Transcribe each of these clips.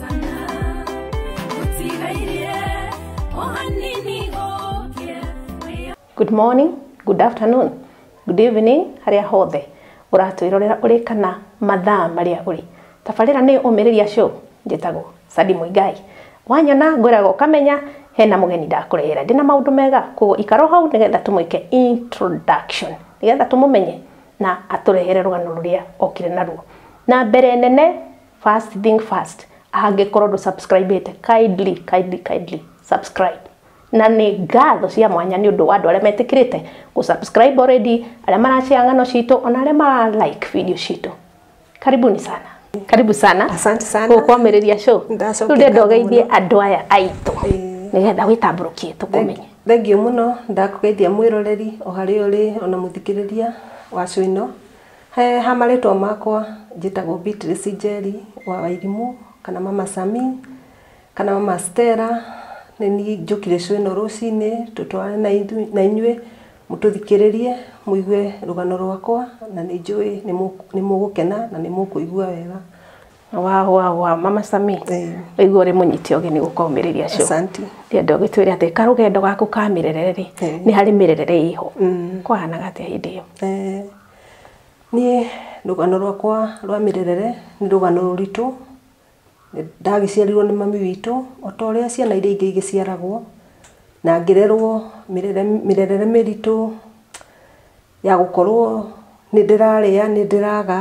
kana gũtigaire o hanini gũkĩa wĩyo Good morning, good afternoon, good evening harĩa hothe ũratwĩrorera ũrĩ kana mathaa marĩa ũrĩ. Tabarĩra nĩ ũmĩrĩria show njĩtagwo Sadi Mũigai. Wanyona ngwĩraga ũkamenya hena mũgeni ndakũrehera ndĩna maũndũ mega koguo ikaro hau nĩgetha tũmwĩke introduction nĩgetha tũmũmenye na atũrehere rũgano rũrĩa okire naruo. Na mbere nene First thing first, angĩkorwo ndũ subscribe ĩte, kindly, kindly, kindly subscribe. Na nĩ ngatho cia mwanya nĩ ũndũ wa andũ arĩa metĩkĩrĩte gũ subscribe already, arĩa marashare ng'ano citũ, ona arĩa mara like video citũ. Karibuni sana. Karibu sana. Asante sana. Gũkwamĩrĩria show. Ndacokera Rĩu ndenda ũgeithie andũ aya aitũ. Nĩgetha wĩtambũrũkie tũkũmenye. Thengiũ mũno ndakũgeithia mwĩroreri o harĩa ũrĩ ona mũthikĩrĩria wa cũ ĩno. He ha marĩtwa makwa njĩtagwo Beatrice Njeri wa Wairimu kana mama Sami kana mama Stella nĩ niĩ njũkire show ĩno rũcinĩ tũtwarane na inyuĩ mũtũthikĩrĩrie mũigue rũgano rwakwa na nĩ njũĩ nĩ mũgũkena na nĩ mũkũigua wega. Wa wa wa mama Sami waigua ũrĩ mũnyiti ũgeni gũka ũmĩrĩria show. Asante. Ndĩenda ũgĩtwĩre atĩ karũgendo gaku ka mĩrerere rĩ nĩ harĩ mĩrerere ĩho kwahanaga atĩa hĩndĩ ĩyo? Niĩ rũgano rwakwa rwa mĩrerere nĩ rũgano rũritũ, ndagĩciarirwo nĩ mami witũ o ta ũrĩa ciana iria ingĩ igĩciaragwo na ngĩrerwo mĩrerere mĩritũ ya gũkorwo nĩ ndĩrarĩa, nĩ ndĩraga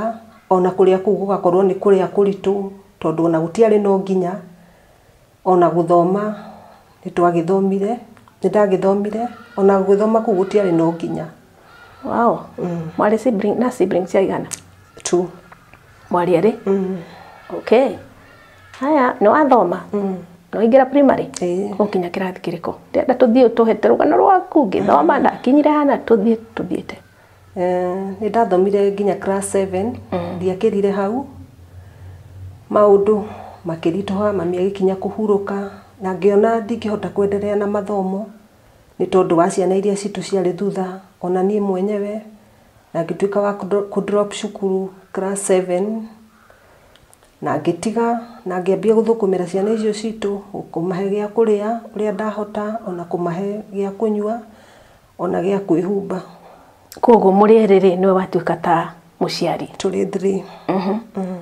o na kũrĩa kũu gũgakorwo nĩ kũrĩa kũritũ tondũ o na gũtiarĩ no nginya. Ona gũthoma nĩ twagĩthomire, nĩ ndagĩthomire, ona gũgĩthoma kũu gũtiarĩ na ũkinya. Wow. Mwarĩ sibling, na siblings aigana? Two. Mwarĩ erĩ? Okay. Haya, nĩ wathoma? Nĩ waingĩra primary? Ĩĩ. Ũkinya kĩrathi kĩrĩkũ? Ndĩrenda tũthiĩ ũtũhete rũgano rwaku ngĩthoma ndakinyire hana tũthiĩ tũthiĩte. Nĩ ndathomire nginya class seven, ndiakĩrire hau, maũndũ makĩritũha, mami agĩkinya kũhurũka, na ngĩona ndingĩhota kwenderea na mathomo, nĩ tondũ wa ciana iria citũ ciarĩ thutha, ona niĩ mwenyewe, na ngĩtuĩka wa kũ drop cukuru class seven, na ngĩtiga, na ngĩambia gũthũkũmĩra ciana icio citũ, kũmahe gĩa kũrĩa ũrĩa ndahota, ona kũmahe gĩa kũnyua, O na gĩa kwĩhumba. Kwoguo mũrĩerĩ-rĩ, nĩwe watuĩka ta mũciari. Tũrĩ three.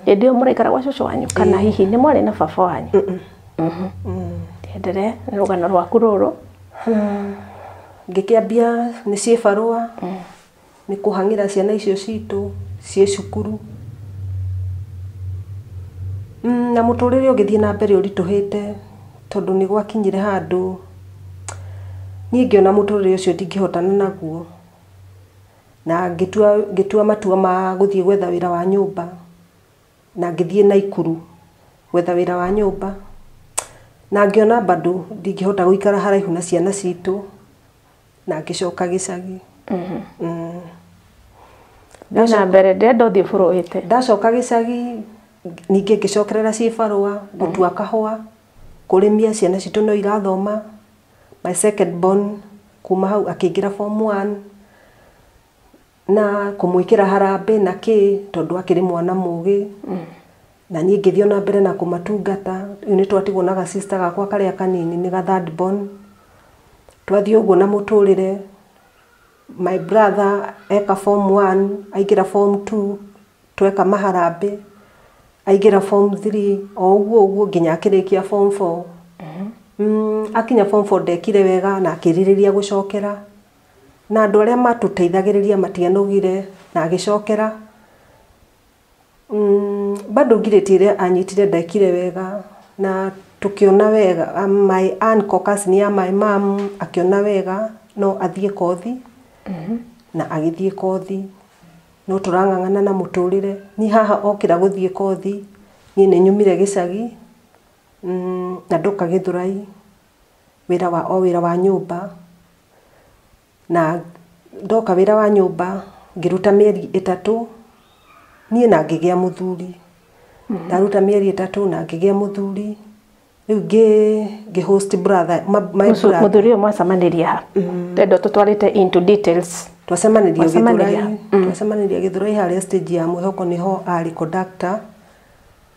Hĩndĩ ĩyo mũraikara gwa cũcũ wanyu kana hihi nĩ mwarĩ na baba wanyu? Enderee, nĩ rũgano rwaku rũrũ. Ngĩkĩambia nĩ ciĩbarũa, Nĩ kũhang'ĩra ciana icio citũ ciĩ cukuru. Na mũtũrĩre ũgĩthiĩ na mbere ũritũhĩte tondũ nĩ gwakinyire handũ niĩ ngĩona mũtũrĩre ũcio ndingĩhotana naguo, na ngĩtua matua ma gũthiĩ gwetha wĩra wa nyũmba, na ngĩthiĩ Naikuru gwetha wĩra wa nyũmba. Na ngĩona bado ndingĩhota gũikara haraihu na ciana citũ. na ngĩcoka gĩcagi Mhm. Mm. Thiĩ na mbere ndĩrenda ũthiĩ bũrũĩte ndacoka gĩcagi ningĩ ngĩcokerera ciĩ barũa gũtua kahũa kũrĩmia ciana citũ no irathoma my second born kuma hau akĩingĩra form one Na kũmwĩkĩra harambĩ na kĩ tondũ akĩrĩ mwana mũgĩ. Na niĩ ngĩthiĩ ona mbere na kũmatungata. Rĩu nĩ twatigwo na ga sister gakwa karĩa kanini nĩ ga third born. Twathiĩ ũguo na mũtũrĩre, my brother eka form one, aingĩra form two, tweka maharambĩ, aingĩra form three, o ũguo ũguo nginya akĩrĩkia form four. Akinya form four ndekire wega na akĩrirĩria gũcokera. Na andũ arĩa matũteithagĩrĩria matianogire na agĩcokera. Bado ngirĩti ĩrĩa anyitire ndekire wega na tũkĩona wega my aunt Caucus nĩ ya my mum akĩona wega no athiĩ kothi na agĩthiĩ kothi. No tũrang'ang'ana na mũtũrĩre. Niĩ haha okĩra gũthiĩ kothi niĩ nĩ nyumire gĩcagi na ndoka Gĩthũrai. wĩra wa o wĩra wa nyũmba, na ndoka wĩra wa nyũmba ngĩruta mĩeri ĩtatũ, niĩ na ngĩgĩa mũthuri. Ndaruta mĩeri ĩtatũ na ngĩgĩa mũthuri, rĩu ngĩ ngĩ host brother ma my Mũcu- brother. mũthuri ũyũ mwacemanĩria ha twenda tũtwarĩte into details Twacemanĩria Gĩthũrai, Mwacemanĩria? twacemanĩria Gĩthũrai harĩa stage ya mwĩhoko nĩho arĩ conductor.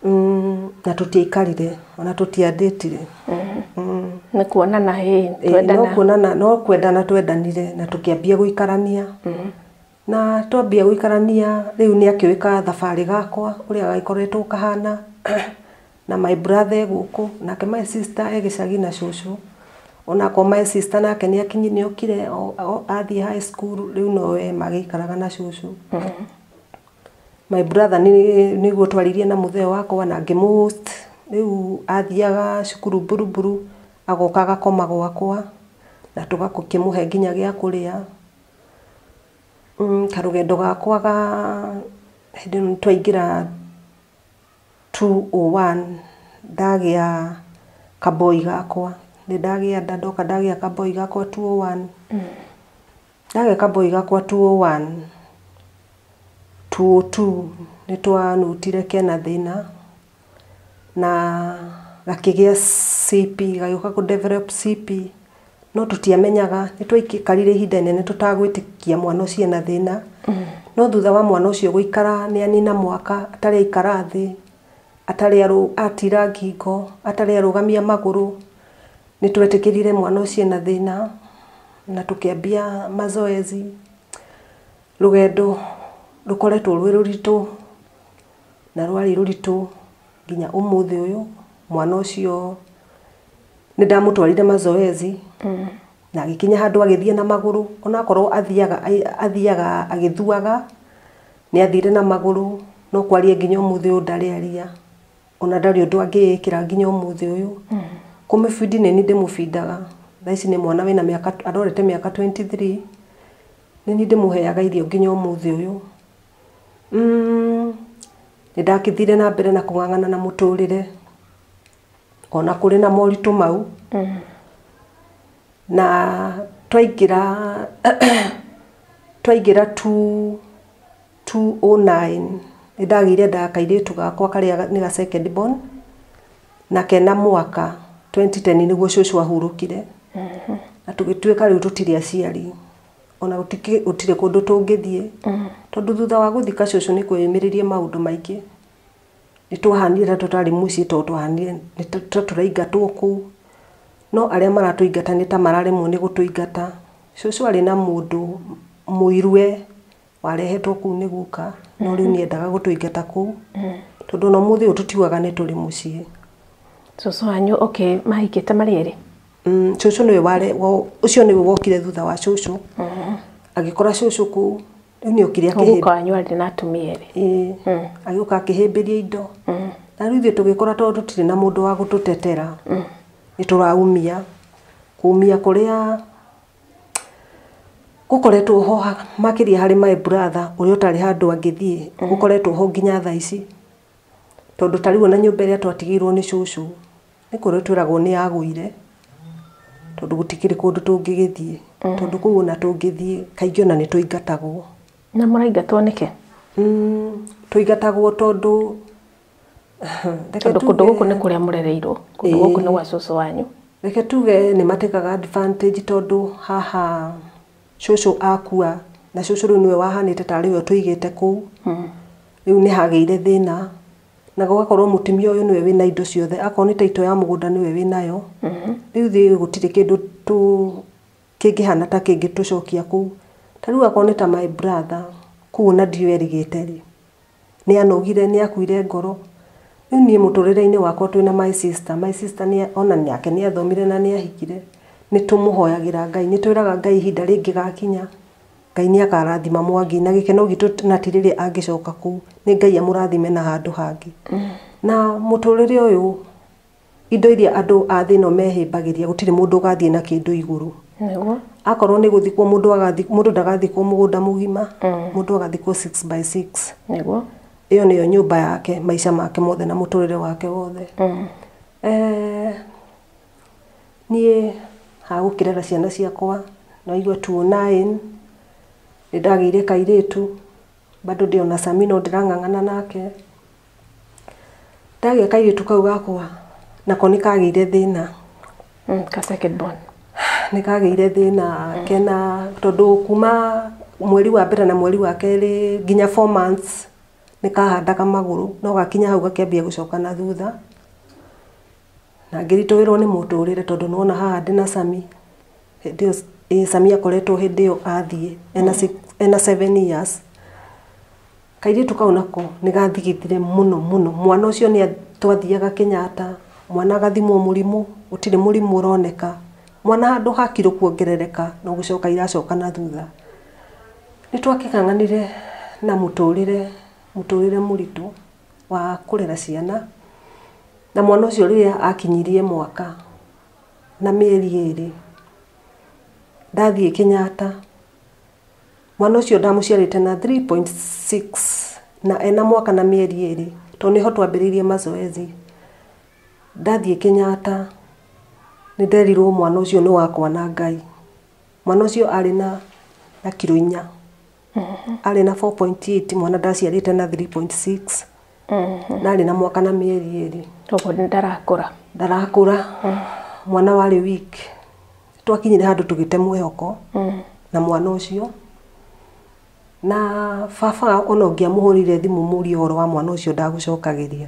Mm, na tũtiaikarire ona tũtiandĩtire Mm. nä kuonana hä Eh, no twendana kuonana no kwendana twendanire na tũkĩambia gũikarania na twambia gũikarania rĩu nĩ akĩũĩ ka thabarĩ gakwa ũrĩa gagĩkoretwo kahana na my brother e gũkũ nake my sister e gĩcagi na cũcũ onakwa my sister nake nĩ akinyi nĩ okire o- o- athiĩ high school rĩu nowe magĩikaraga na cũcũ My brother nĩguo twaririe na mũthee wakwa na ngĩ mũ host, rĩu athiaga cukuru Buruburu, agoka agakoma gwakwa, na tũgakĩmũhe nginya gĩa kũrĩa. Karũgendo gakwa ga hĩndĩ ĩyo twaingĩra two O one, ndagĩa ka boy gakwa, nĩ ndagĩa nda, ndoka ndagĩa ka boy gakwa two O one. Gaka kaboi gakwa 201 202 nĩtwanutire kena thĩna na gakĩgĩa CP gagĩũka kũ develop CP no tũtiamenyaga nĩtwaikarire ihinda inene tũtagwĩtĩkia mwana ũcio ena thĩna no thutha wa mwana ũcio gũikara nĩanina mwaka atarĩ aikara thĩ atarĩ arũ atira ngingo, atarĩ arũgamia magũrũ, nĩtwetĩkĩrire mwana ũcio ena thĩna, na tũkĩambia mazoezi, rũgendo rũkoretwo rwĩ rũritũ, na rwarĩ rũritũ nginya ũmũthĩ ũyũ, mwana ũcio nĩndamũtwarire mazoezi. Na agĩkinya handũ agĩthiĩ na magũrũ, onakorwo athiaga athiaga agĩthuaga, nĩathire na magũrũ, no kwaria nginya ũmũthĩ ũyũ ndarĩ aria, ona ndarĩ ũndũ angĩĩkĩra nginya ũmũthĩ ũyũ. Kũmĩbindi nĩniĩ ndĩmũbindaga, thaa ici nĩ mwana wĩna mĩaka arorete mĩaka twenty three, nĩniĩ ndĩmũheaga irio nginya ũmũthĩ ũyũ. Nĩndagĩthire na mbere na kũng'ang'ana na mũtũrĩre. ona kũrĩ na moritũ mau na twaingĩra twaingĩra tu tu o nine nĩ ndagĩire nda kairĩtu gakwa karĩa nĩ ga second born na kena mwaka twenty ten nĩguo cũcũ ahurũkire na tũgĩtuĩka rĩu tũtirĩ aciari ona gũtikĩ- gũtirĩ kũndũ tũngĩthiĩ tondũ thutha wa gũthika cũcũ nĩ kweyumĩririe maũndũ maingĩ nĩtwahanire ta tũtarĩ mũciĩ tondũ twahanire nĩ ta ta tũraingatwo kũu, no arĩa maratũingata nĩ ta mararemwo nĩ gũtũingata. Cũcũ arĩ na mũndũ mũiru we warehetwo kũu nĩ guka, no rĩu nĩendaga gũtũingata kũu, tondũ ona ũmũthĩ ũyũ tũtiugaga nĩ tũrĩ mũciĩ. Cũcũ wanyu okay mahikĩte marĩ erĩ? Cũcũ nĩwe ware ũcio nĩwe wokire thutha wa cũcũ, agĩkora cũcũ kũu. rĩu nĩ okire akĩhĩ- Mũguka wanyu arĩ na atumia erĩ. Ĩĩ. Mm. agĩũka akĩhĩmbĩria indo Mm. na rĩu ithuĩ tũgĩkora tondũ tũtirĩ na mũndũ wa gũtũtetera nĩ tũraumia kumia kũrĩa gũkoretwo ho ha- makĩria harĩ my brother ũrĩa ũtarĩ handũ angĩthiĩ gũkoretwo ho nginya thaa ici Tondũ ta rĩu ona nyũmba ĩrĩa twatigĩirwo nĩ cũcũ, nĩ kũrĩo twĩragwo nĩ yagũire, tondũ gũtikĩrĩ kũndũ tũngĩgĩthiĩ. Tondũ kũu ona tũngĩthiĩ kaingĩ ona nĩ tũingatagwo. Na mũraingatwo nĩkĩ? Tũingatagwo tondũ, reke tuge. Tondũ kũndũ gũkũ nĩ kũrĩa mũrereirwo, kũndũ gũkũ nĩ gwa cũcũ wanyu. Reke tuge nĩ ma take advantage tondũ haha cũcũ akua, na cũcũ rĩu nĩwe wahanĩte tarĩ we ũtũigĩte kũu. Rĩu nĩ hagĩire thĩna na gũgakorwo mũtumia ũyũ nĩwe wĩna indo ciothe, akorwo nĩ taitũ ya mũgũnda nĩwe wĩnayo. Mhm. Rĩu thiĩ gũtirĩ kĩndũ tũ kĩngĩhana ta kĩngĩ tũcokia kũu. Ta rĩu akorwo nĩ ta my brother, kũu ona ndiũ erigĩte rĩ, nĩ anogire, nĩ akuire ngoro. Rĩu niĩ mũtũrĩre-inĩ wakwa twĩna my sister, my sister ona nake nĩ athomire na nĩ ahikire, nĩ tũmũhoyagĩra Ngai, nĩ twĩraga Ngai ihinda rĩngĩgakinya. Ngai nĩ akarathima Mwangi na gĩkeno gitũ na ti rĩrĩa angĩcoka kũu. Nĩ Ngai amũrathime na handũ hangĩ. Na mũtũrĩre ũyũ indo iria andũ a thĩ ĩno mehĩmbagĩria gũtirĩ mũndũ ũgathiĩ na kĩndũ igũrũ. Nĩguo. Akorwo nĩ gũthikwo mũndũ agathikwo mũndũ ndagathikwo mũgũnda mũgima. Mũndũ agathikwo six by six. Nĩguo. Ĩyo nĩyo nyũmba yake maica make mothe na mũtũrĩre wake wothe. Niĩ ha gũkĩrera ciana ciakwa ndaigua two nine, nĩ ndagĩire kairĩtu bado ndĩ ona Sami no ndĩrang'ang'ana nake. Ndagĩa kairĩtu kau gakwa nako nĩ kagĩire thĩna, nĩ kagĩire thĩna kena tondũ kuma mweri wa mbere na mweri wa kerĩ nginya four months nĩ kahandaga magũrũ no gakinya hau gakĩambia gũcoka na thutha. Na ngĩritũhĩrwo nĩ mũtũrĩre tondũ nĩwona haha ndĩ na Sami, hĩndĩ ĩyo ĩĩ Sami akoretwo hĩndĩ ĩyo athiĩ ena six ena seven years. Kairĩtu kau nako nĩ gathigithire mũno mũno. Mwana ũcio nĩ twathiaga Kĩnyatta, mwana agathimwo mũrimũ, gũtirĩ mũrimũ ũroneka. Mwana handũ ha kiro kuongerereka, no gũcoka iracoka na thutha. Nĩ twakĩng'ang'anire na mũtũrĩre mũtũrĩre mũritũ. wa kũrera ciana, na mwana ũcio rĩrĩa akinyirie mwaka na mĩeri ĩrĩ, ndathiĩ Kenyatta, mwana ũcio ndamũciarĩte na three point six, na ena mwaka na mĩeri ĩrĩ, to nĩho twambĩrĩirie mazoezi, ndathiĩ Kenyatta, nĩ nderirwo mwana ũcio nĩ wakwa na Ngai, mwana ũcio arĩ na na kiro inya. arĩ na 4.8 mwana ndaciarĩte na 3.6 na arĩ na mwaka na mĩeri ĩrĩ koguo nĩ ndarakũra ndarakũra mwana warĩ weak twakinyire handũ tũgĩte mwĩhoko na mwana ũcio na baba ona ũngĩamũhũrĩire thimũ mũrie ũhoro wa mwana ũcio ndagũcokagĩria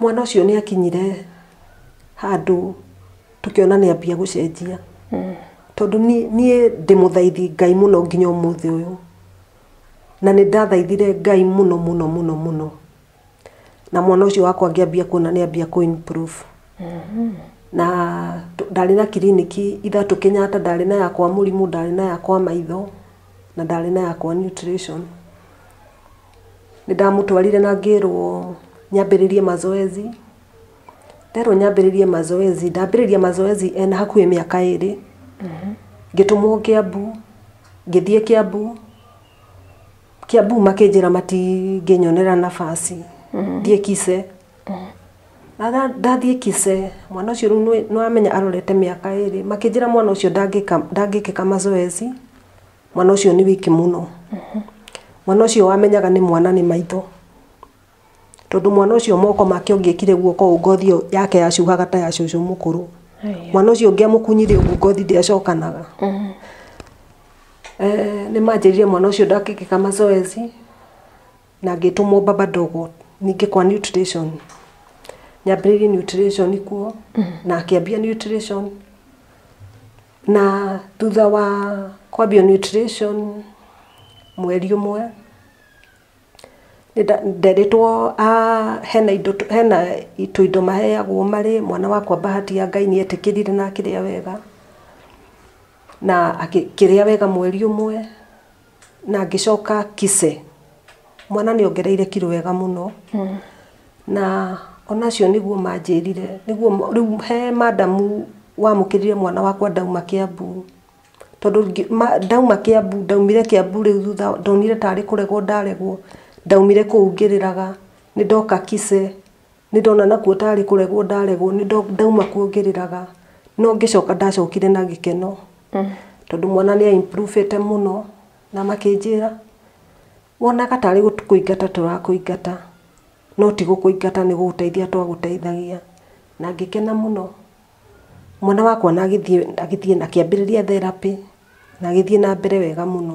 mwana ũcio nĩ akinyire handũ tũkĩona nĩ ambia gũcenjia tondũ ni- niĩ ndĩ mũthaithi ngai mũno nginya ũmũthĩ ũyũ na nĩ ndathaithire ngai mũno mũno mũno mũno na mwana ũcio wakwa ngĩambia kuona nĩ ambia kũ improve na tũ- ndarĩ na kiriniki ithatũ kenyatta ndarĩ na yakwa mũrimũ ndarĩ na yakwa maitho na ndarĩ na yakwa nutrition Nĩ ndamũtwarire na ngĩrwo nyambĩrĩrie mazoezi, nderwo nyambĩrĩrie mazoezi, ndambĩrĩria mazoezi ena hakuhĩ mĩaka ĩrĩ, ngĩtũmwo Kĩambu, ngĩthiĩ Kĩambu, Kĩambu makĩnjĩra matingĩnyonera nabaci thiĩ Kise, ndathiĩ Kise, mwana ũcio rĩu nĩ wamenya arorete mĩaka ĩrĩ, makĩnjĩra mwana ũcio ndangĩka ndangĩkĩka mazoezi. mwana ũcio nĩ wiki mũno mwana ũcio wamenyaga nĩ mwana nĩ maitho tondũ mwana ũcio moko make ũngĩkire guoko ũũ ngothi ĩyo yake yacuhaga ta ya cũcũ mũkũrũ mwana ũcio ũngĩamũkunyire ũguo ngothi ndĩacokanaga Eh, nĩ manjĩrire mwana ũcio ndakĩkĩka mazoezi na ngĩtũmwo baba ndogo ningĩ kwa nutrition nyambĩrĩirie nutrition kuo na akĩambia nutrition Na thutha wa kwambia nutrition mweri ũmwe, nderĩtwo hena indo hena tũindo maheagwo marĩ, mwana wakwa Bahati ya Ngai nĩ etĩkĩrire na akĩrĩa wega, na akĩrĩa wega mweri ũmwe. na ngĩcoka kise mwana nĩ ongereire kiro wega mũno na onacio nĩguo manjĩrire nĩguo rĩu he madamu wamũkĩrire mwana wakwa ndauma kĩambu tondũ ndauma kĩambu ndaumire kĩambu rĩu thutha ndonire tarĩ kũregwo ndaregwo ndaumire kũu ngĩrĩraga nĩ ndoka kise Nĩndona nakuo tarĩ kũregwo ndaregwo, ndauma kuo ngĩrĩraga no ngĩcoka ndacokire na gĩkeno tondũ mwana nĩ a improve ĩte mũno na makĩnjĩra wonaga tarĩ kũingata tũrakũingata no ti gũkũingata nĩ gũgũteithia twagũteithagia na ngĩkena mũno. Mwana wakwa ona agĩthiĩ akĩambĩrĩria therapĩ na agĩthiĩ na mbere wega mũno.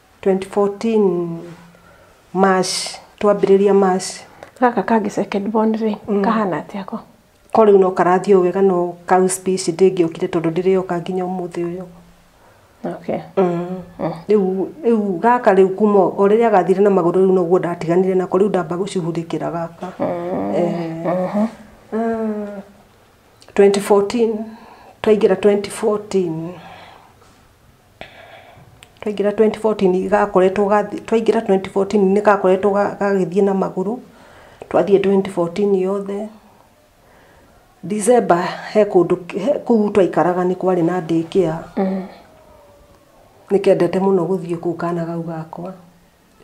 Twenty fourteen March, twambĩrĩria March. Gaka kangĩ second born rĩ, kahana atĩa ko? Ko rĩu no karathiĩ o wega no kau speech ndĩngĩokire tondũ ndĩrĩoka nginya ũmũthĩ ũyũ. Okay. Rĩu rĩu gaka rĩu kuma o o rĩrĩa gathire na magũrũ rĩu noguo ndatiganire nako rĩu ndamba gũcuhurĩkĩra gaka. Twenty fourteen, twaingĩra twenty fourteen. Twaingĩra twenty fourteen gakoretwo gathiĩ, twaingĩra twenty fourteen nĩ gakoretwo gagĩthiĩ na magũrũ, twathiĩ twenty fourteen yothe. December he kũndũ kũu twaikaraga nĩ kwarĩ na day care, nĩ kendete mũno gũthiĩ kũu kana kau gakwa.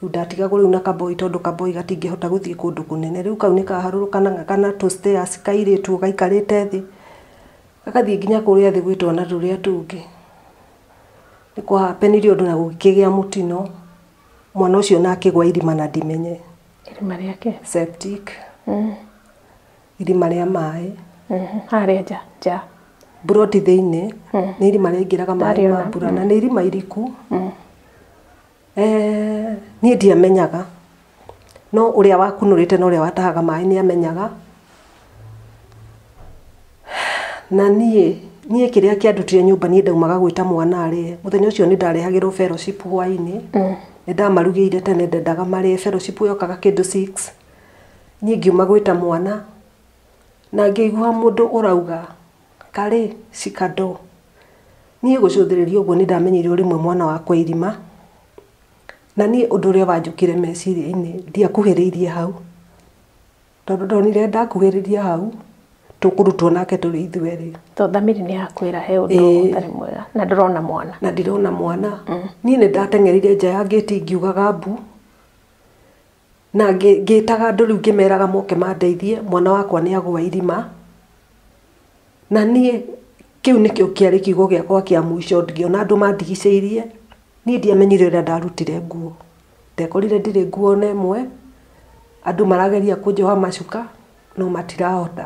Rĩu ndatigagwo rĩu na kaboi tondũ kaboi gatingĩhota gũthiĩ kũndũ kũnene. Rĩu kau nĩkaharũrũkanaga kana tũ stairs kairĩtu gaikarĩte thĩ, gagathiĩ nginya kũrĩa thĩ gwĩ twana tũrĩa tũngĩ. Nĩ kũ happen ire ũndũ na gũkĩgĩa mũtino, mwana ũcio ona akĩgwa irima na ndimenye. Irima rĩake? Septic. Irima rĩa maĩ. Harĩa nja nja? Mburoti thĩinĩ, nĩ irima rĩaingĩraga maĩ ma mbura na nĩ irima iriku. Niĩ ndiamenyaga, no ũrĩa wakunũrĩte na ũrĩa watahaga maĩ nĩ amenyaga. Na niĩ, niĩ kĩrĩa kĩandutire nyũmba niĩ ndaumaga gwĩta mwana arĩe. Mũthenya ũcio nĩ ndarehagĩrwo fellowship hwainĩ, nĩ ndamarugĩire tene ndendaga marĩe, fellowship yokaga kĩndũ six. Niĩ ngiuma gwĩta mwana, na ngĩigua mũndũ ũrauga. Karĩ, cikandoo. Niĩ gũcũthĩrĩria ũguo nĩ ndamenyire ũrĩ mwe mwana wa kwa irima, na niĩ ũndũ ũrĩa wanjũkire meciria-inĩ ndiakuhĩrĩirie hau, tondũ ndonire ndakuhĩrĩria hau tũkũrutwo nake tũrĩ ithuerĩ. Tondũ thamiri nĩ yakwĩra he ũndũ Ĩĩ. ũtarĩ mwega na ndũrona mwana. na ndirona mwana niĩ nĩ ndateng'erire nja ya ngĩti ngiugaga mbu Na ngĩĩtaga andũ rĩu ngĩmeraga moke mandeithie, mwana wakwa nĩ agũa irima, na niĩ kĩu nĩkĩo kĩarĩ kiugo gĩakwa kĩa mũico, ngĩona andũ mandigicĩirie, niĩ ndiamenyire ũrĩa ndarutire nguo, ndekorire ndirĩ nguo ona ĩmwe, andũ marageria kũnjoha macuka no matirahota.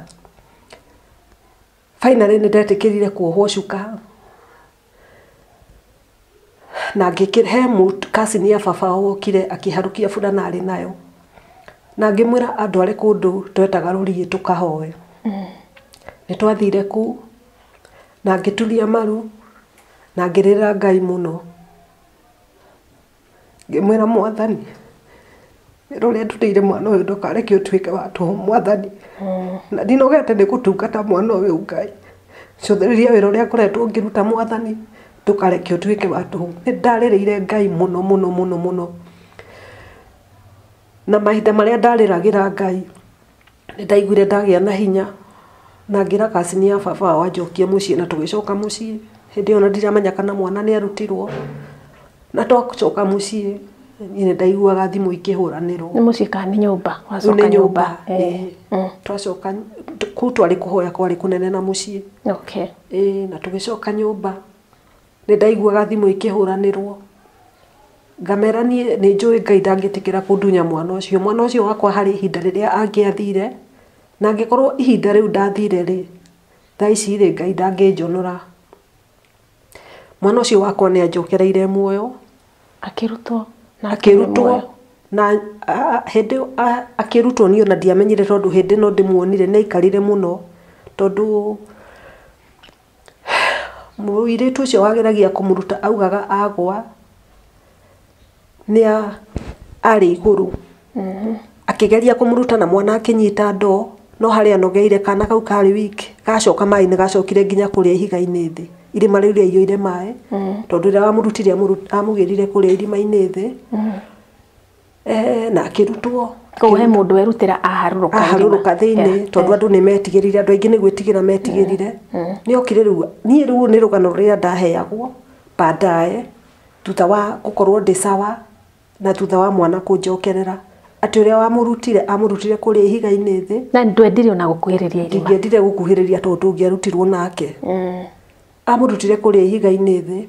Finally nĩ ndetĩkĩrire kuohwo cuka na ngĩkĩra he cousin ya baba wokire akĩharũkia burana arĩ nayo na ngĩmwĩra andware kũndũ twetaga rũriĩ tũkahoe mm. nĩ twathire kuu na ngĩturia maru na ngĩrĩra ngai mũno Ngĩmwĩra mwathani, wĩra ũrĩa ndutĩire mwana ũyũ ndũkareke ũtuĩke wa tũhũ mwathani. Na ndinogete nĩ gũtungata mwana ũyũ Ngai. Cũthĩrĩria wĩra ũrĩa ngoretwo ngĩruta mwathani, ndũkareke ũtuĩke wa tũhũ. Nĩ ndarĩrĩire Ngai mũno mũno mũno mũno. Na mahinda marĩa ndarĩragĩra Ngai. nĩ ndaiguire ndagĩa na hinya na ngĩra cousin ya baba ao anjokie mũciĩ na tũgĩcoka mũciĩ. Hĩndĩ ĩyo ona ndiramenya kana mwana nĩ arutirwo. Na twacoka mũciĩ niĩ nĩ ndaiguaga thimũ ikĩhũranĩrwo. Nĩ mũciĩ kana nĩ nyũmba? Rĩu nĩ nyũmba. Twacoka kũu twarĩ kũhoya kwarĩ kũnene na mũciĩ. Na tũgĩcoka nyũmba. Nĩ ndaiguaga thimũ ikĩhũranĩrwo, ngamera niĩ nĩ njũĩ Ngai ndangĩtĩkĩra kũndunya mwana ũcio. Mwana ũcio wakwa harĩ ihinda rĩrĩa angĩathire, na angĩkorwo ihinda rĩu ndathire rĩ, thaa ici rĩ, Ngai ndangĩnjonora. Mwana ũcio wakwa nĩ anjokereire muoyo, akĩrutwo na hĩndĩ ĩyo akĩrutwo niĩ ona ndiamenyire tondũ hĩndĩ ĩno ndĩmuonire nĩ aikarire mũno tondũ... Mũirĩtu ũcio wageragia kũmũruta augaga agũa nĩa arĩ igũrũ akĩgeria kũmũruta na mwana akĩnyita ndoo no harĩa anogeire kana kau karĩ wiki gacoka maĩ nĩ gacokire nginya kũrĩa ihiga-inĩ thĩ irima rĩu rĩaiyũire maĩ tondũ rĩrĩa wamũrutire amũgĩrire kũrĩa irima-inĩ thĩ. Eh, na akĩrutwo koguo he mũndũ werutĩra aharũrũka aharũrũka thĩinĩ tondũ andũ nĩ metigĩrire andũ aingĩ nĩ gwĩtigĩra metigĩrire nĩ okire rĩu niĩ rĩu nĩ rũgano rũrĩa ndaheagwo baadaye thutha wa gũkorwo ndĩ sawa na thutha wa mwana kũnjokerera atĩ ũrĩa wamũrutire amũrutire kũrĩa ihiga-inĩ thĩ na ndwendire ona gũkuhĩrĩria irima ingĩendire gũkuhĩrĩria tondũ ndũngĩarutirwo nake amũrutire kũrĩa ihiga-inĩ thĩ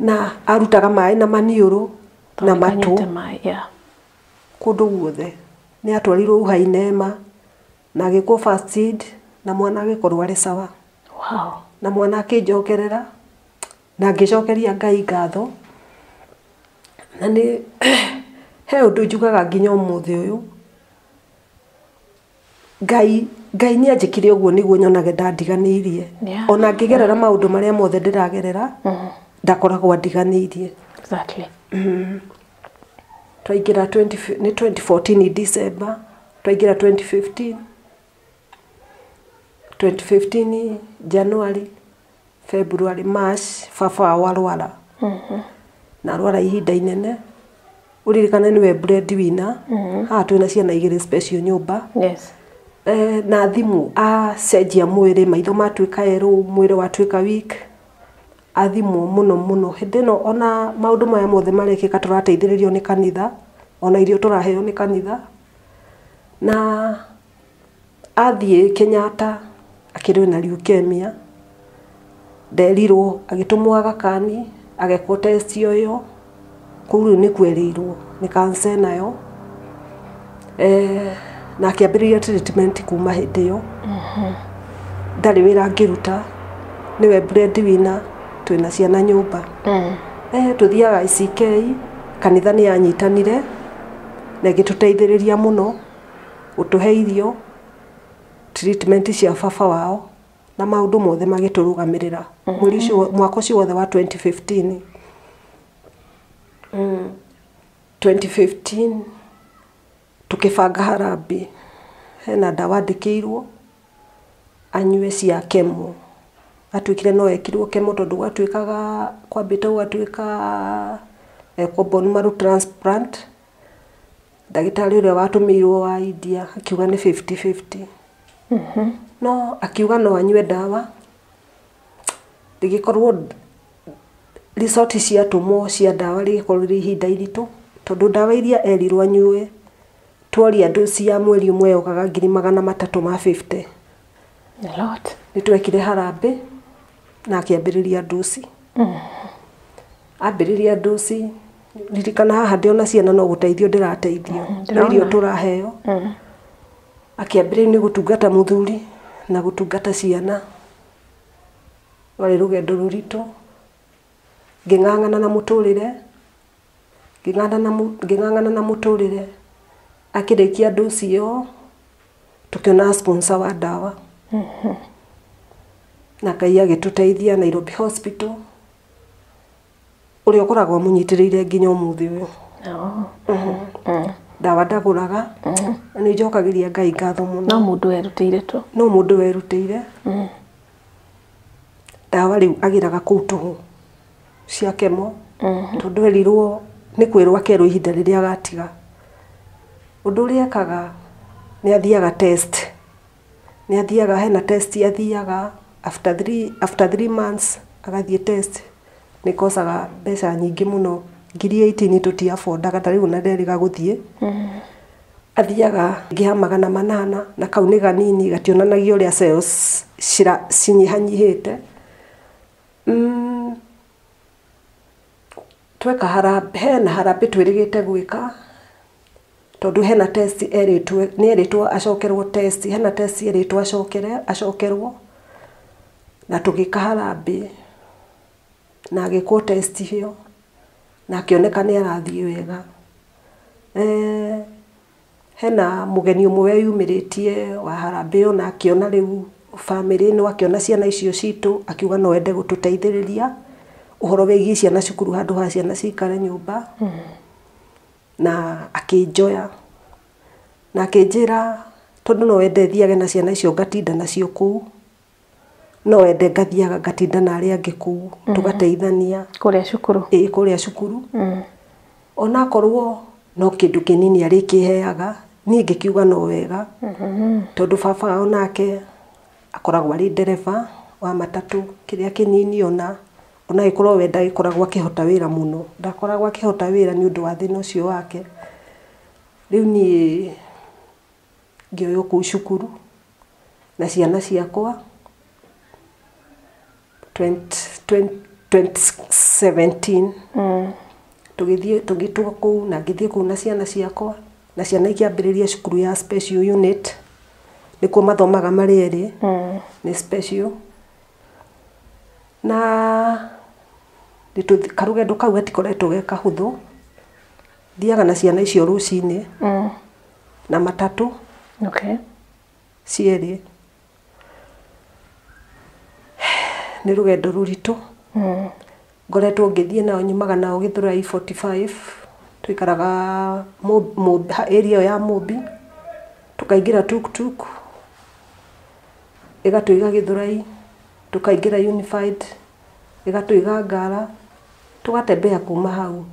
Na arutaga maĩ na maniũrũ na matũ kũndũ guothe. Nĩ atwarirwo uhai neema na agĩkwo first aid na mwana agĩkorwo arĩ sawa. Na mwana akĩnjokerera na ngĩcokeria Ngai ngatho. Na nĩ he ũndũ njugaga nginya ũmũthĩ ũyũ. Ngai, Ngai nĩ anjĩkire ũguo nĩguo nyonage ndandiganĩirie. Yeah. Ona ngĩgerera maũndũ marĩa mothe ndĩragerera, ndakoragwo andiganĩirie. Exactly. Twaingĩra 20 fi- nĩ 2014 December, twaingĩra 2015, 2015 January, February, March baba wao arwara na arwara ihinda inene ũririkane nĩwe bread winner haha twĩ na ciana igĩrĩ special nyũmba Yes. Eh, na thimũ acenjia mwĩrĩ maitho matuĩka erũ mwĩrĩ watuĩka weak athimwo mũno mũno hĩndĩ ĩno ona maũndũ maya mothe marekĩka tũrateithĩrĩrio nĩ kanitha ona irio tũraheo nĩ kanitha na Athiĩ Kenyatta akĩrĩ na leukemia, nderirwo agĩtũmwo Aga Khan agekwo test ĩyo, kũu rĩu nĩkuo erĩirwo nĩ cancer ĩnayo, na akĩambĩrĩria treatment kuma hĩndĩ ĩyo, ndarĩ wĩra angĩruta, nĩwe bread winner, twĩna ciana nyũmba, tũthiaga ACK, kanitha nĩ yanyitanire na ĩgĩtũteithĩrĩria mũno. gũtũhe irio, treatment cia baba wao, na maũndũ mothe magĩtũrũgamĩrĩra mweri ũcio wo- mwaka ũcio wothe wa 2015. Mm, 2015 tũkĩbanga harambee hena ndawa andĩkĩirwo anyue cia kemo atuĩkire no ekirwo kemo tondũ gwatuĩkaga kwambĩte gũgatuĩka ekwo bone marrow transplant ndagĩtarĩ ũrĩa watũmĩirwo wa India akiuga nĩ fifty fifty no akiuga no anyue ndawa rĩgĩkorwo result ciatũmwo cia ndawa rĩgĩkorwo rĩ ihinda iritũ tondũ ndawa iria erirwo anyue tworia andũ cia mweri ũmwe yokaga ngiri magana matatũ ma fifty. Nĩ twekire harambĩ. na akĩambĩrĩria nduci ambĩrĩria nduci ririkana haha ndĩ ona ciana no gũteithio ndĩrateithio no irio tũraheo akĩambĩrĩria nĩ gũtungata mũthuri na gũtungata ciana rwarĩ rũgendo rũritũ ngĩng'ang'ana na mũtũrĩre ngĩng'ang'ana na mũtũrĩre, akĩrĩkia dosi ĩyo tũkĩonaga sponsor wa ndawa na Ngai agĩtũteithia Nairobi Hospital, ũrĩa ũkoragwo ũmũnyitĩrĩire nginya ũmũthĩ ũyũ. Ndawa ndagũraga na nĩ njokagĩria Ngai ngatho mũno. No mũndũ werutĩire tu. No mũndũ werutĩire, ndawa rĩu agĩraga kũu tũhũ. cia kemo tondũ erirwo nĩ kwĩrwo akerwo ihinda rĩrĩa agatiga. Ũndũ ũrĩa ekaga nĩ athiaga test, nĩ athiaga hena test athiaga after three, after three months agathiĩ test nĩ ĩkocaga mbeca nyingĩ mũno, ngiri eighteen tũti afondaga ta rĩu ona nderĩga gũthiĩ. Athiaga rĩngĩ ha magana manana na kau nĩ ganini gationanagia ũrĩa cells cira, cinyihanyihĩte. Tweka harambee, hena harambee twĩrĩgĩte gwĩka, tondũ hena test erĩtwo, nĩ erĩtwo acokerwo test, hena test erĩtwo acokere, acokerwo, na tũgĩka harambee, na agĩkwo test ĩyo, na akĩoneka nĩ arathiĩ wega. Hena mũgeni ũmwe weyumĩrĩtie wa harambee ĩyo na akĩona rĩu bamĩrĩ ĩno, akĩona ciana icio citũ, akiuga no ende gũtũteithĩrĩria ũhoro wĩgiĩ ciana cukuru handũ ha ciana cikare nyũmba, na akĩnjoya na akĩnjĩra tondũ no ende thiage na ciana icio ngatinda nacio kũu. no wende ngathiaga ngatinda na arĩa angĩ kũu mm-hmm. tũgateithania kũrĩa cukuru ĩĩ kũrĩa cukuru mm. onakorwo no kĩndũ kĩnini arĩ kĩheaga niĩ ngĩkiuga no wega mm-hmm. tondũ baba wao nake akoragwo arĩ ndereba wa matatũ kĩrĩa kĩnini ona ona gĩkorwo we ndagĩkoragwo akĩhota wĩra mũno ndakoragwo akĩhota wĩra nĩ ũndũ wa thĩna ũcio wake rĩu niĩ ngĩoywo kũu cukuru na ciana ciakwa twenty twenty twenty seventeen tũgĩthiĩ tũgĩtwo kũu na ngĩthiĩ kũu na ciana ciakwa na ciana ikĩambĩrĩria cukuru ya special unit nĩkuo mathomaga marĩ erĩ nĩ special na nĩtũthi- karũgendo kau gatikoretwo ge kahũthũ Thiaga na ciana icio rũcinĩ mm. na matatũ okay. cierĩ nĩ rũgendo rũritũ mm. ngoretwo ngĩthiĩ nao nyumaga nao gĩthũrai 45 tũikaraga area ya mũmbi tũkaingĩra tuktuk ĩgatũiga gĩthũrai tũkaingĩra unified ĩgatũiga ngara tũgatembea kuma hau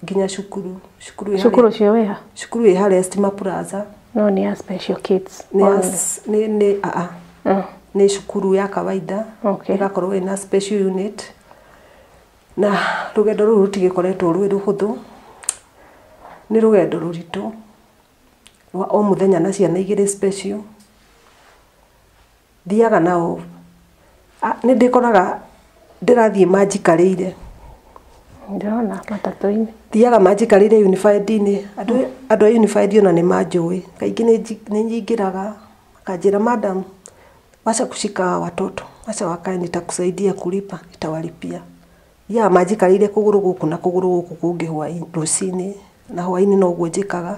nginya cukuru cukuru ĩ harĩa- cukuru ũcio wĩha cukuru ĩ harĩa stima plaza no nĩ ya special kids nĩ ya- nĩ nĩ aa Mm. nĩ cukuru ya kawaida Okay. ĩgakorwo ĩna special unit na rũgendo rũrũ rũtigĩkoretwo rwĩ rũhũthũ nĩ rũgendo rũritũ rwa o mũthenya na ciana igĩrĩ special Thiaga na ũũ, nĩ ndĩkoraga ndĩrathiĩ manjikarĩire. Ndĩrona matatũ-inĩ. Thiaga manjikarĩire yunibacĩtĩ-inĩ, andũ a yunibacĩtĩ ona nĩ manjũĩ. Kaingĩ nĩ nyingĩraga, makanjĩra madam, wacha kushika hawa watoto, wacha wakae nitakusaidia kulipa, nitawalipia. Ya ma njikarĩire kũgũrũ gũkũ na kũgũrũ gũkũ kũngĩ hwainĩ rũcinĩ na hwainĩ noguo njĩkaga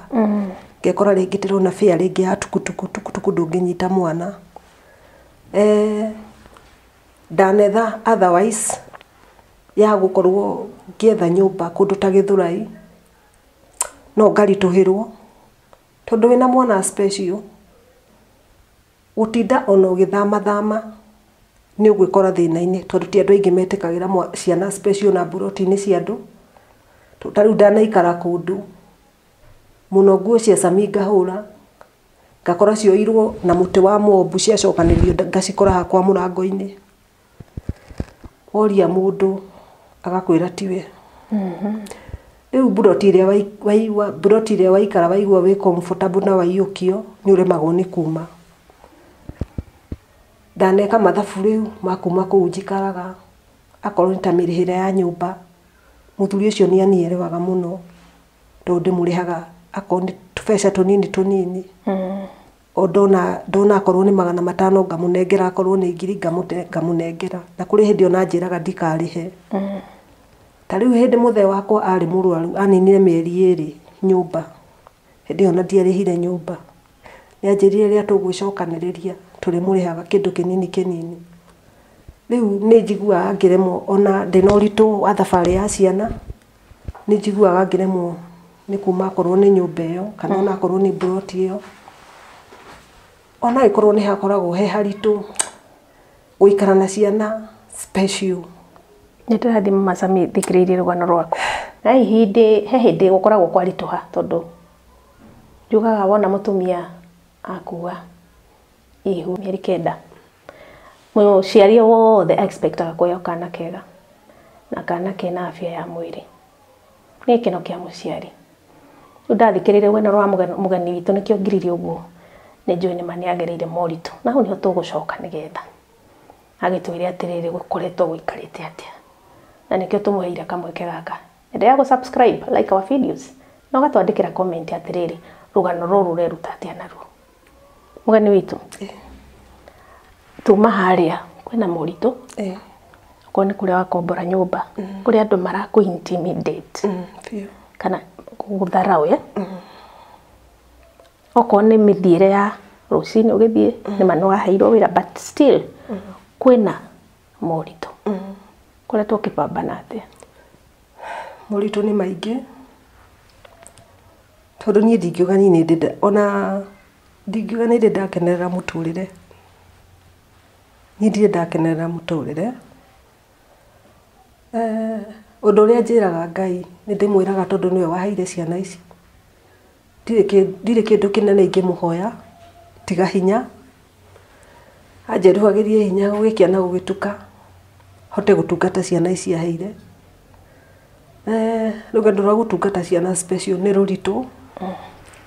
ngekora rĩngĩ ndĩrona fear rĩngĩ ya tukutuku tukutuku ndũngĩnyita mwana eh ndanetha otherwise ya gũkorwo ngĩetha nyũmba kũndũ ta gĩthũrai no ngaritũhĩrwo tondũ wĩna mwana special Gũtinda ona ũgĩthama thama nĩ ũgwĩkora thĩna-inĩ tondũ ti andũ aingĩ metĩkagĩra ciana space ona mburoti-inĩ cia andũ. Ta rĩu ndanaikara kũndũ, mũno nguo cia cami ngahũra, ngakora cioirwo na mũtĩ wa mũmbu ciacokanĩrĩrio ngacikora hakwa mũrango-inĩ. woria mũndũ agakwĩra tiwe. Rĩu mburoti ĩrĩa waigua, mburoti ĩrĩa waikara waigua wĩ comfortable na waiyũkio, nĩ ũremagwo nĩ kuuma. Ndaneka mathabu rĩu ma kuuma kũu njikaraga, akorwo nĩ ta mĩrĩhĩre ya nyũmba, mũthuri ũcio nĩ anielewaga mũno, tondũ ndĩmũrĩhaga akorwo nĩ tũbeca tũnini tũnini. ndona akorwo nĩ magana matano ngamũnengera akorwo nĩ ngiri ngamũnengera na kũrĩ hĩndĩ ona anjĩraga ndikarĩhe ta rĩu hĩndĩ mũthee wakwa arĩ mũrwaru aninire mĩeri ĩrĩ nyũmba hĩndĩ ĩyo ona ndiarĩhire nyũmba nĩanjĩrire rĩrĩa tũgũgĩcokanĩrĩria tũrĩmũrĩhaga kĩndũ kĩnini kĩnini rĩu nĩnjiguaga ngĩremwo ona ndĩna ũritũ wa thabarĩ ya ciana nĩ njiguaga ngĩremwo nĩ kuuma okorwo nĩ nyũmba ĩyo kana ona okorwo nĩ mburoti ĩyo. O na angĩkorwo nĩ hakoragwo he haritũ gũikara na ciana special. Nĩ tũrathiĩ mama Sami thikĩrĩirie rũgano rwaku. Na hĩndĩ he hĩndĩ gũkoragwo kwaritũha tondũ njugaga wona mũtumia akua. ihu mĩeri kenda mũciari wothe expectaga kuheo kana kega na kana kena afya ya mwĩrĩ nĩ gĩkeno kĩa mũciari rĩu ndathikĩrĩirie rũgano rwa mũgeni witũ nĩkĩo ngiririe ũguo nĩ njũĩ nĩma nĩ agereire moritũ na hau nĩho tũgũcoka nĩgetha agĩtwĩre atĩrĩrĩ gũkoretwo gũikarĩte atĩa na nĩkĩo tũmũheire kamweke gaka Endelea gũsubscribe, like our videos na ũgatwandĩkĩra comment atĩrĩrĩ, rũgano rũrũ ũreruta atĩa naruo. Mũgeni witũ, tuma harĩa kwĩna moritũ Eh, okorwo nĩ kũrĩa wakombora nyũmba kũrĩa andũ marakũ intimidate mm, biũ. kana gũtharaũ ya okorwo nĩ mĩthiĩre ya rũcinĩ ũgĩthiĩ nĩ manũ waheirwo wĩra but still kwĩna moritũ ũkoretwo ũkĩbambana atĩa? Moritũ nĩ maingĩ tondũ niĩ ndingiuga niĩ nĩndĩ nda ona ndingiuga nĩndĩ ndakenerera mũtũrĩre, niĩ ndirĩ ndakenerera mũtũrĩre. Ũndũ ũrĩa njĩraga Ngai nĩndĩmwĩraga tondũ nĩwe waheire ciana ici. Ndirĩ kĩndũ kĩnene ingĩmũhoya tiga hinya, anjeruhagĩrie hinya gũgĩkĩa na gũgĩtuka hote gũtungata ciana ici aheire. Rũgendo rwa gũtungata ciana special nĩ rũritũ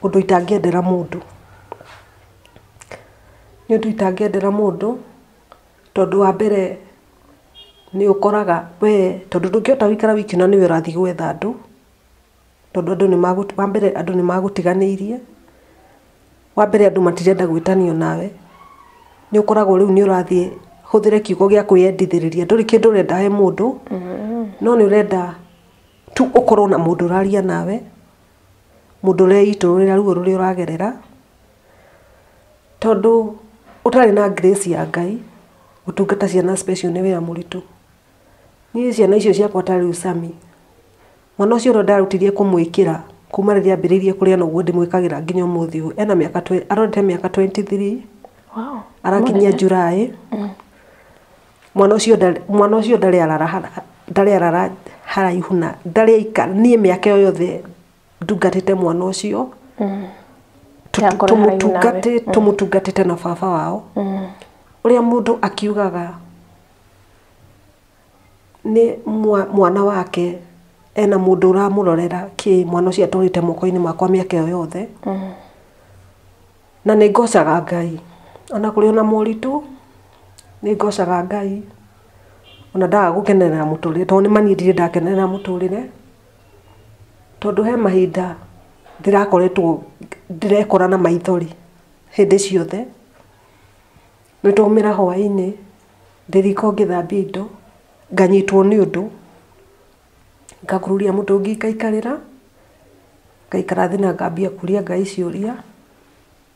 ũndũ itangĩendera mũndũ, nĩ ũndũ itangĩendera mũndũ tondũ wa mbere nĩ ũkoraga we tondũ ndũngĩhota gũikara wiki na nĩwe ũrathiĩ gwetha andũ. tondũ andũ nĩ magũ, wa mbere andũ nĩ magũtiganĩirie, wa mbere andũ matirenda gwĩtanio nawe, nĩ ũkoragwo rĩu nĩ ũrathiĩ, hũthĩre kiugo gĩa kwĩyendithĩrĩria, ndũrĩ kĩndũ ũrenda he mũndũ, no nĩ ũrenda tu ũkorwo na mũndũ ũraria nawe, mũndũ ũreitũrũrĩra ruo rũrĩa ũragerera, tondũ ũtarĩ na grace ya Ngai, gũtungata ciana special nĩ wĩra mũritũ. Niĩ ciana icio ciakwa ta rĩu Sammy, mwana ũcio ũrĩa ndarutithie kũmwĩkĩra kuma rĩrĩa ambĩrĩirie kũrĩa noguo ndĩmwĩkagĩra nginya ũmũthĩ ũyũ. Ena mĩaka twe- arorete mĩaka 23, Wow. arakinyia July. Mwana ũcio ndarĩ- mwana ũcio ndarĩ arara hara- ndarĩ arara haraihu na ndarĩ aika niĩ mĩaka ĩyo yothe ndungatĩte mwana ũcio tũmũtungatĩte na baba wao ũrĩa mũndũ akiugaga nĩ mwana wake ena mũndũ ũramũrorera kĩ mwana ũcio atũrĩte moko-inĩ makwa mĩaka ĩyo yothe na nĩ ngocaga ngai ona kũrĩ ona moritũ nĩ ngocaga ngai ona ndaga gũkenerera mũtũrĩre tondũ nĩ manini ndirĩ ndakenerera mũtũrĩre. Tondũ he mahinda ndĩrakoretwo ndĩrekora na maithori hĩndĩ ciothe, nĩ ndaumĩra hwaĩ-inĩ ndĩ riko ngĩthambia indo, nganyitwo nĩ ũndũ, ngakururia mũtũngi ngaikarĩra, ngaikara thĩ na ngambia kũria Ngai ciũria.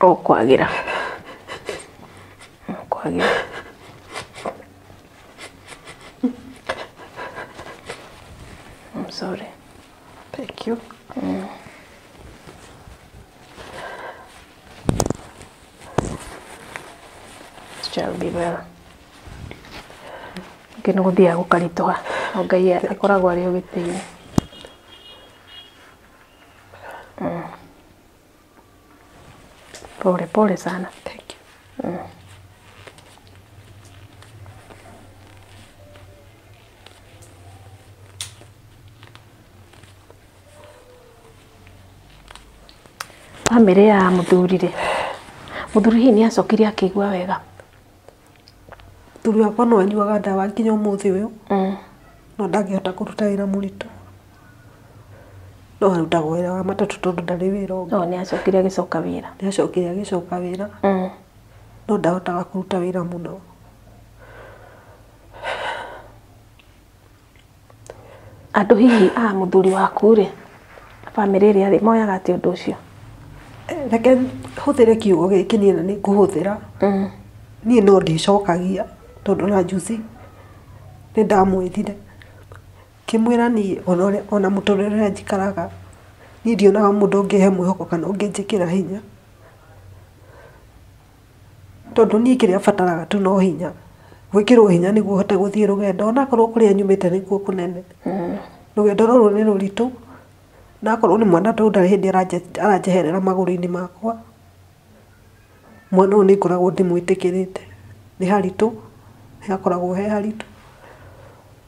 Ũkwagĩra. Ũkwagĩra. I'm sorry. Thank you. This shall be well. Ningĩ nĩ gũthiaga gũkaritũha. No Ngai akoragwo arĩ ũgitĩire. Mm. Pole pole sana. Thank you. Mm. Bamĩrĩ ya mũthurire. Mũthuri hihi nĩ acokire akĩigua wega. Mũthuri wakwa no anyuaga ndawa nginya ũmũthĩ ũyũ, no ndangĩhota kũruta wĩra mũritũ. No arutaga o wĩra wa matatũ tondũ ndarĩ wĩra ũngĩ. No nĩacokire agĩcoka wĩra. Nĩacokire agĩcoka wĩra, no ndahotaga kũruta wĩra mũno. Andũ hihi a mũthuri waku rĩ, bamĩrĩ ĩrĩa rĩ, moyaga atĩa ũndũ ũcio? Reke hũthĩre kiugo gĩkĩ niĩ na nĩ ngũhũthĩra, niĩ no ndĩcokagia tondũ o na njuzi nĩ ndamwĩrire, ngĩmwĩra niĩ o na mũtũrĩre ũrĩa njikaraga, niĩ ndionaga mũndũ ũngĩhe mwĩhoko kana ũngĩnjĩkĩra hinya. Tondũ niĩ kĩrĩa bataraga tu no hinya, gwĩkĩrwo hinya nĩguo hote gũthiĩ rũgendo ona korwo kũrĩa nyumĩte nĩkuo kũnene. Rũgendo rũrũ nĩ rũritũ, na akorwo nĩ mwana tondũ ndarĩ hĩndĩ aranjeherera magũrũ-inĩ makwa, mwana ũyũ nĩ ngoragwo ndĩmwĩtĩkĩrĩte. Nĩ haritũ, nĩ hakoragwo he haritũ.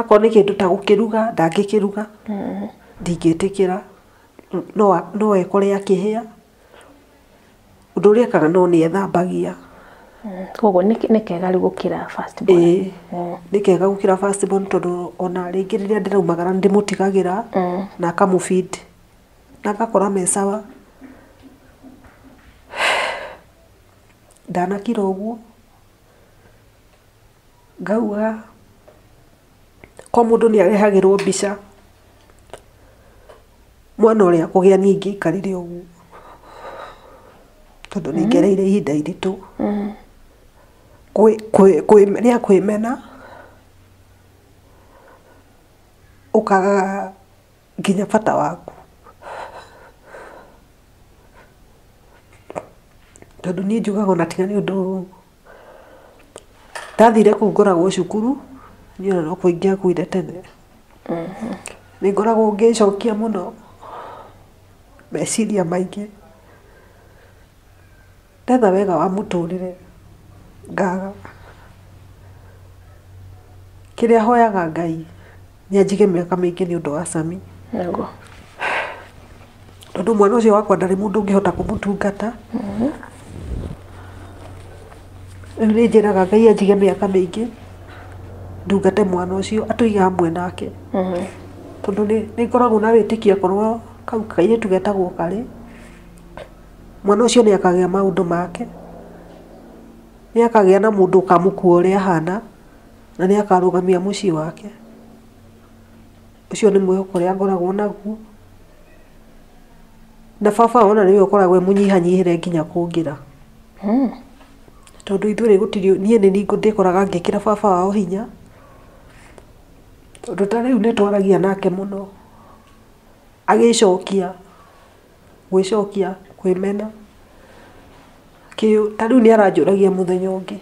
Akorwo nĩ kĩndũ ta gũkĩruga ndangĩkĩruga, ndingĩtĩkĩra, no ekore akĩhĩa. Ũndũ ũrĩa ekaga no nĩ ethambagia. Kwoguo nĩ kega rĩu gũkĩra first born? Ĩĩ, nĩ kega gũkĩra first born tondũ o na rĩngĩ rĩrĩa ndĩraumagara nĩ ndĩmũtigagĩra na akamũ feed na ngakora me sawa. Ndanakira ũguo. Ngauga o mũndũ nĩ arehagĩrwo mbica, mwana ũrĩa akũgĩa niĩ ingĩikarire ũguo, tondũ nĩ ngereire ihinda iritũ, rĩa kwĩmena, ũkaga nginya bata waku. Tondũ niĩ njugaga ona tiga nĩ ũndũ ndathire kũu ngoragwo cukuru niĩ ona no kũingĩa ngũire tene nĩ ngoragwo ngĩcokia mũno meciria maingĩ ndetha wega wa mũtũrĩre ngaga kĩrĩa hoyaga Ngai. Nĩ anjige mĩaka mĩingĩ nĩ ũndũ wa Sami. Nĩguo. Tondũ mwana ũcio wakwa ndarĩ mũndũ ũngĩhota kũmũtungata. Rĩu nĩ njĩraga Ngai anjige mĩaka mĩingĩ ndungate mwana ũcio atũige hamwe nake. Tondũ nĩ nĩ ngoragwo na wĩtĩkia korwo kau kairĩtu getagwo karĩ, mwana ũcio nĩ akagĩa maũndũ make. Nĩ akagĩa na mũndũ ũkamũkua ũrĩa ahana. Na nĩ akarũgamia mũciĩ wake. Ũcio nĩ mwĩhoko ũrĩa ngoragwo naguo. Na baba ona nĩwe ũkoragwo mũnyihanyihĩre nginya kũngĩra. Hmm. Tondũ ithuĩ gũtirĩ niĩ nĩ ndĩkoraga ngĩkĩra baba wao hinya. Tondũ ta rĩu nĩ twaragia nake mũno. Agĩcokia. gwĩcokia, kwĩmena, ta rĩu nĩ aranjũragia mũthenya ũngĩ,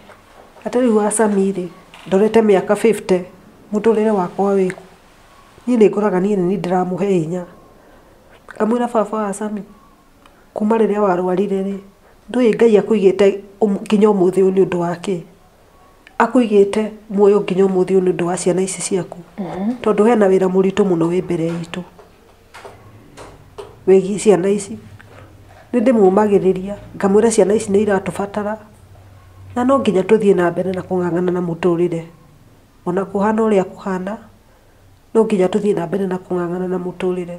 atĩ rĩu wa Sami rĩ, ndorete mĩaka fifty, mũtũrĩre wakwa wĩ kũ? Niĩ nĩ ngoraga niĩ nĩ niĩ ndĩramũhe hinya. Ngamwĩra baba wa Sami, kuma rĩrĩa warwarire rĩ, ndũĩ Ngai akũigĩte nginya ũmũthĩ ũyũ nĩ ũndũ wa kĩ? Akũigĩte muoyo nginya ũmũthĩ ũyũ nĩ ũndũ wa ciana ici ciaku, tondũ hena wĩra mũritũ mũno wĩ mbere itũ. wĩgiĩ ciana ici. Nĩ ndĩmũmagĩrĩria, ngamwĩra ciana ici nĩ iratũbatara, na no nginya tũthiĩ na mbere na kũng'ang'ana na mũtũrĩre. O na kũhana ũrĩa kũhana, no nginya tũthiĩ na mbere na kũng'ang'ana na mũtũrĩre.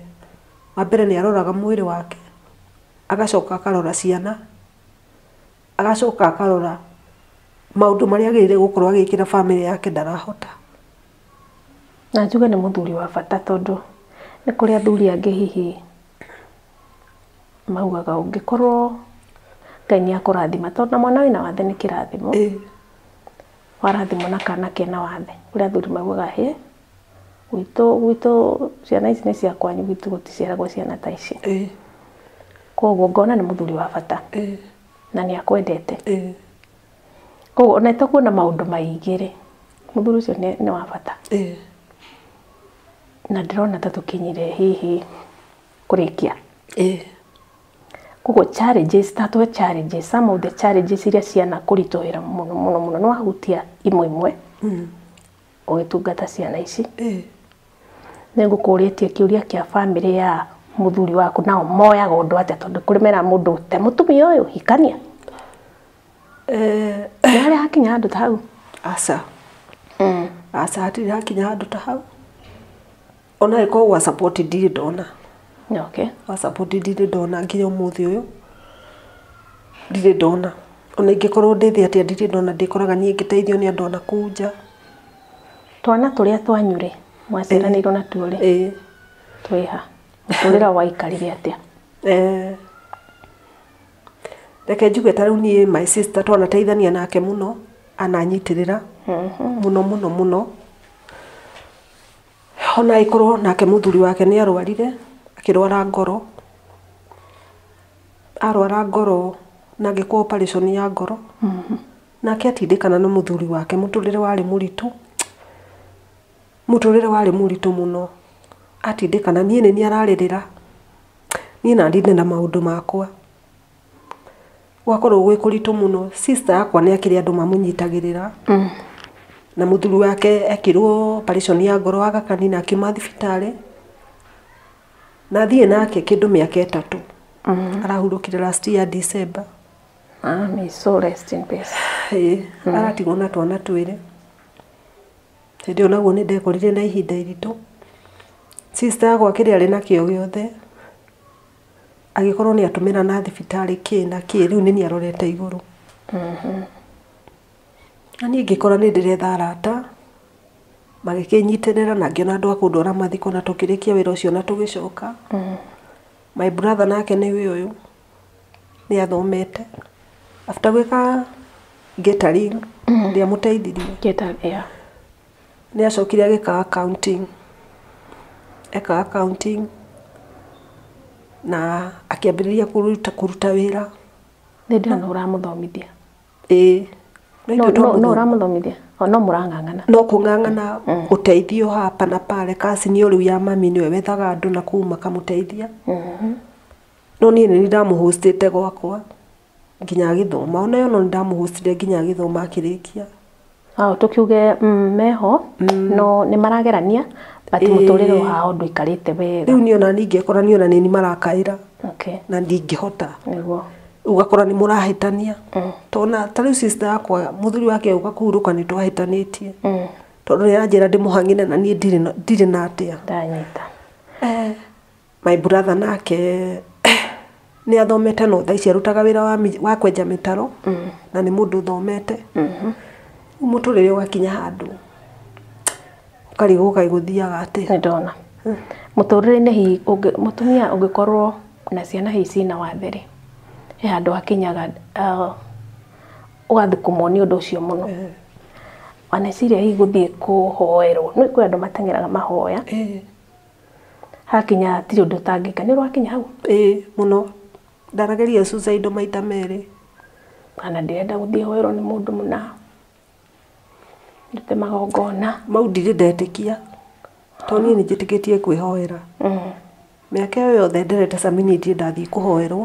Wa mbere nĩ aroraga mwĩrĩ wake, agacoka akarora ciana, agacoka akarora maũndũ marĩa agĩrĩire gũkorwo agĩkĩra bamĩrĩ yake ndarahota. Na njuge nĩ mũthuri wa bata tondũ nĩ kũrĩ athuri angĩ hihi maugaga ũngĩkorwo Ngai nĩ akũrathima tondũ na mwana wĩna wathe nĩ kĩrathimo. Warathimwo na kana kena wathe. Kũrĩ athuri maugaga hĩ, gwitũ gwitũ ciana ici nĩ cia kwanyu gwitũ gũticiaragwo ciana ta ici. Kwoguo ngona nĩ mũthuri wa bata na nĩ akwendete. Koguo ona ĩtakuona maũndũ maingĩ rĩ, mũthuri ũcio nĩ nĩ wa bata. Ĩĩ. Na ndĩrona ta tũkinyire hihi kũrĩkia. Ĩĩ. Koguo challenges, tatwe challenges, some of the challenges iria ciana kũritũhĩra mũno mũno mũno, nĩwahutia imwe imwe, ũgĩtungata ciana ici. Ĩĩ. Nĩngũkũrĩtie kĩũria kĩa bamĩrĩ ya mũthuri waku nao moyaga ũndũ atĩa tondũ kũrĩ meraga mũndũ te mũtumia ũyũ, hikania. Eh, Nĩ harĩa hakinya handũ ta hau aca Mm. aca hatirĩ hakinya handũ ta hau ona ĩkorwo gwa support ndirĩ ndona okay wa support ndirĩ ndona nginya ũmũthĩ ũyũ ndirĩ ndona ona ingĩkorwo ndĩthĩ atĩa ndirĩ ndona ndĩkoraga niĩ ngĩteithio nĩ andũ anakuu nja twana tũrĩa twanyu rĩ mwaciaranĩirwo natuo rĩ ĩĩ twĩha mũtũrĩra waikarire atĩa Eh, reke njuge ta rĩu niĩ my sister twanateithania nake mũno ananyitĩrĩra mhm. mũno mũno mũno ona agĩkorwo nake mũthuri wake nĩ arwarire akĩrwara ngoro arwara ngoro na ngĩkwo operation ya ngoro mhm. nake atindĩkana na mũthuri wake mũtũrĩre warĩ mũritũ Mũtũrĩre warĩ mũritũ mũno, atindĩka na niĩ nĩ niĩ ararĩrĩra, niĩ na ndinde na maũndũ makwa. Gwakorwo gwĩ kũritũ mũno, sister yakwa nĩ akĩrĩ andũ mamũnyitagĩrĩra, na mũthuri wake ekirwo operation ya ngoro aga kanitha akiuma thibitarĩ, na thiĩ nake kĩndũ mĩaka ĩtatũ, arahurũkire last year December. May his soul rest in peace. Ĩĩ aratigwo na twana twĩrĩ. Hĩndĩ ĩyo naguo nĩ ndekorire na ihinda iritũ. Sister yakwa kĩrĩa arĩ nakĩo gĩothe, agĩkorwo nĩ atũmĩra na thibitarĩ kĩ na kĩ, rĩu nĩ niĩ arorete igũrũ. Na niĩ ngĩkora nĩ ndĩretha arata, magĩkĩnyitĩrĩra na ngĩona andũ a kũndwara mathiko na tũkĩrĩkia wĩra ũcio na tũgĩcoka. My brother nake nĩwe ũyũ. nĩathomete after gwĩka catering ndĩamũteithirie nĩacokire agĩka accounting ekaga accounting na akĩambĩrĩria kũruta wĩra nĩndĩrona nĩwe ũramũthomithia ĩĩ nĩwe ũramũthomithia oo no mũrang'ang'ana no kũng'ang'ana ũteithio hapa na pale kaci nĩyo rĩu ya mami nĩyo wethaga andũ nakũu makamũteithia. No niĩ nĩ niĩ ndamũ host ĩte gwakwa nginya agĩthoma. Ona ĩyo no niĩ ndamũ host ire nginya agĩthoma akĩrĩkia. Hau tũkiuge meho no nĩ maragerania but mũtũrĩre wao ndũikarĩte wega. Rĩu niĩ ona niĩ ingĩkora nĩ niĩ marakaĩra na ndingĩhota. Nĩguo. Rĩu ũgakora nĩ mũrahĩtania. Ta ona ta rĩu sister yakwa mũthuri wake agĩũka kũhurũka nĩ twahĩtanĩtie. Tondũ nĩ aranjĩra ndĩmũhang'ĩre na niĩ ndirĩ na atĩa. Ndanyita. My brother nake nĩ athomete no thaa ici arutaga wĩra wa, mi- wa kwenja mĩtaro na nĩ mũndũ ũthomete rĩu mũtũrĩre ũgakinya handũ ũkarigwo kaĩ gũthiaga atĩa nĩ ndona mũtũrĩre-inĩ hihi ũngĩ- mũtumia ũngĩkorwo na ciana hihi cina wathe rĩ he handũ hakinyaga ah, ũgathũkũmwo nĩ ũndũ ũcio mũno waneciria hihi gũthiĩ kũhoerwo nĩ kwĩ andũ mateng'eraga mahoya Ĩĩ. Hakinya hatirĩ ũndũ ũtangĩka. Nĩ ũrakinya hau? Ĩĩ mũno. Ndanageria suicide maita merĩ. Kana ndĩrenda gũthiĩ hoerwo nĩ mũndũ mũna, ndute magongona. Mau ndirĩ ndetĩkia, to niĩ nĩ njĩtĩkĩtie kwĩhoera. Mĩaka ĩyo yothe nderete caminiti ndathiĩ kũhoerwo,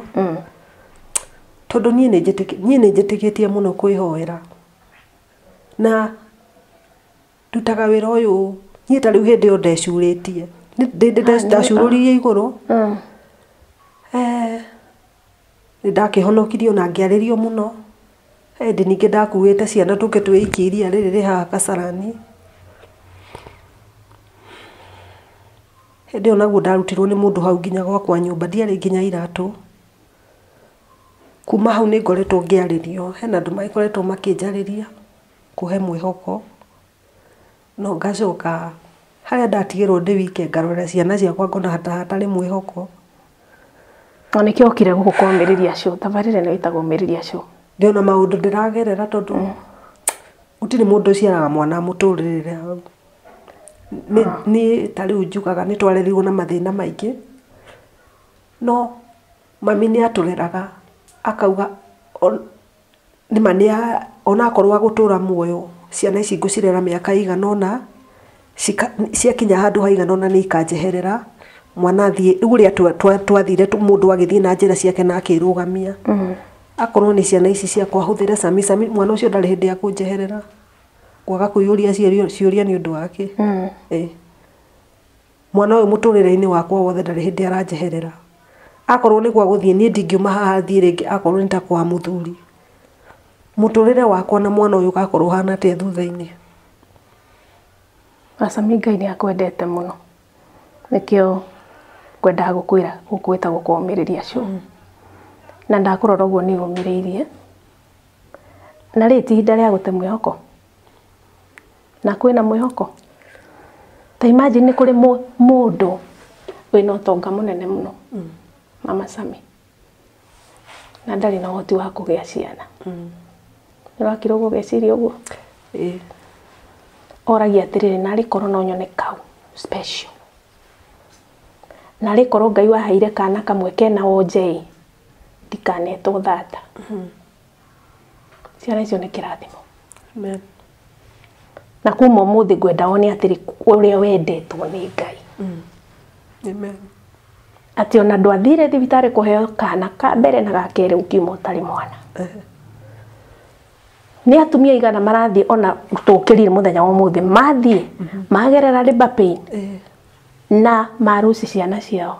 tondũ niĩ nĩ njĩtĩkĩtie mũno kwĩhoera. Na ndutaga wĩra ũyũ ũũ niĩ ta rĩu hĩndĩ ĩyo ndecurĩtie Nĩ- ndĩ- ndĩ- ndĩ- ndacurũririe igũrũ Mm. Eh, nĩ ndakĩhonokirio na ngĩarĩrio mũno hĩndĩ ningĩ ndakuĩte ciana tũke twĩikie iria rĩrĩ rĩ haha kasarani hĩndĩ ĩyo naguo ndarutirwo nĩ mũndũ hau nginya gwakwa nyũmba ndiarĩ nginya iratũ kuma hau nĩ ngoretwo ngĩarĩrio hena andũ magĩkoretwo makĩnjarĩria kũhe mwĩhoko, na ngacoka harĩa ndatigĩrwo ndĩ wike ngarorera ciana ciakwa ngona ta hatarĩ mwĩhoko. Na nĩkĩo okire gũkũ kwa Ũmĩrĩria Show, tabarĩra ĩno ĩtagwo Ũmĩrĩria Show. Ndĩ ona maũndũ ndĩragerera tondũ gũtirĩ mũndũ ũciaraga mwana amũtũrĩrĩre hau. Niĩ ta rĩu njugaga nĩ twarerirwo na mathĩna maingĩ, no mami nĩ atũreraga akauga Nĩ ma nĩ ona akorwo agũtũra muoyo, ciana ici ngũcirera mĩaka ĩigana ũna, ciakinya handũ haigana ũna nĩ ikanjeherera, mwana athiĩ, rĩu ũrĩa twathire mũndũ agĩthiĩ na njĩra ciake na akĩrũgamia. Akorwo nĩ ciana ici ciakwa hũthĩre cami cami, mwana ũcio ndarĩ hĩndĩ ekũnjeherera, kwaga kwĩyũria ciũria nĩ ũndũ wake. Mwana ũyũ mũtũrĩre-inĩ wakwa wothe ndarĩ hĩndĩ aranjeherera. Akorwo nĩ gwa gũthiĩ niĩ ndingiuma haha thiĩ rĩngĩ akorwo nĩ ta kwa mũthuri. Mũtũrĩre wakwa na mwana ũyũ ũgakorwo ũhana atĩa thutha-inĩ? Aca mi Ngai nĩ akwendete mũno. Nĩkĩo ngwendaga gũkwĩra gũkũ gwĩtagwo kwa ũmĩrĩria show. Na ndakũrora ũguo nĩ ũmĩrĩirie. Na rĩ ti ihinda rĩa gũte mwĩhoko? na kwĩna mwĩhoko. Ta imagine nĩ kũrĩ mũndũ wĩna ũtonga mũnene mũno mama Sami na ndarĩ na ũhoti wa kũgĩa ciana. Nĩwakira ũguo ũgeciria ũguo? Oragia atĩrĩrĩ, narĩ korwo no nyone kau special. Narĩ korwo Ngai waheire kana kamwe kena wonje-ĩ, ndikanetwo thata. Ciana icio nĩ kĩrathimo. Amen. Na kuma ũmũthĩ ngwenda one atĩrĩ ũrĩa wendetwo nĩ Ngai. Mm. Amen. Atĩ ona ndwathire thibitarĩ kũheo kana ka mbere na ga kerĩ ũkiuma ũtarĩ mwana. Uh -huh nä atumia igana marathiä ona tå kä rire må thenya wa må thä mathiä magerera rä na maruci ciana ciao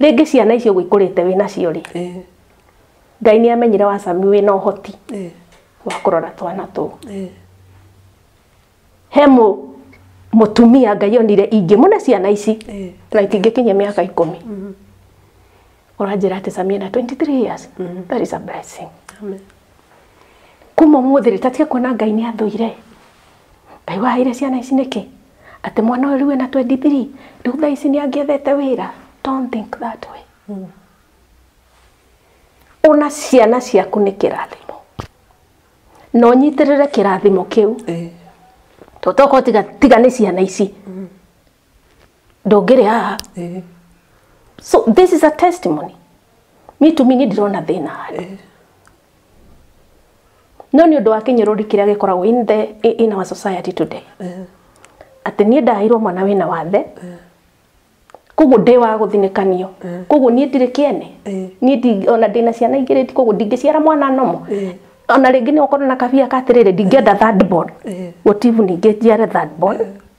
rĩngĩ ciana icio ũguo ikũrĩte wĩ nacio rĩ Eh, ngai nĩ amenyire wa sami wĩ na ũhoti eh, wa kũrora twana tũu eh. he mũ mũtumia ngai onire ingĩmũne ciana ici Eh. na itingĩkinyia mĩaka ikũmi ũranjĩra atĩ sami ena 23 years that is a blessing Amen. kuma mũthĩ rĩ tatige kuona ngai nĩ athũire Ngai waheire ciana ici nĩkĩ? Atĩ mwana ũyũ rĩu ena 23 rĩu thaa ici nĩ angĩethete wĩra? Don't think that way. Ona ciana ciaku nĩ kĩrathimo na ũnyitĩrĩre kĩrathimo kĩu Eh. tondũ tokorwo tiga, tiga nĩ ciana ici ndũngĩrĩ haha Eh, so this is a testimony me to me nĩ ndĩrona thĩna handũ no nĩ ũndũ wa kĩnyũrũri kĩrĩa gĩkoragwo in, the, in our society today atĩ niĩ ndaheirwo mwana wĩna wathe koguo ndĩ wa gũthinĩkanio koguo niĩ ndirĩ kĩene Eh. niĩ ndi- ona ndĩna ciana igĩrĩ koguo ndingĩciara mwana nomo Eh. ona rĩngĩ nĩ ũkorwo na kabia ka atĩrĩrĩ ndingĩenda third born Eh. gũtibu ningĩ njiare third born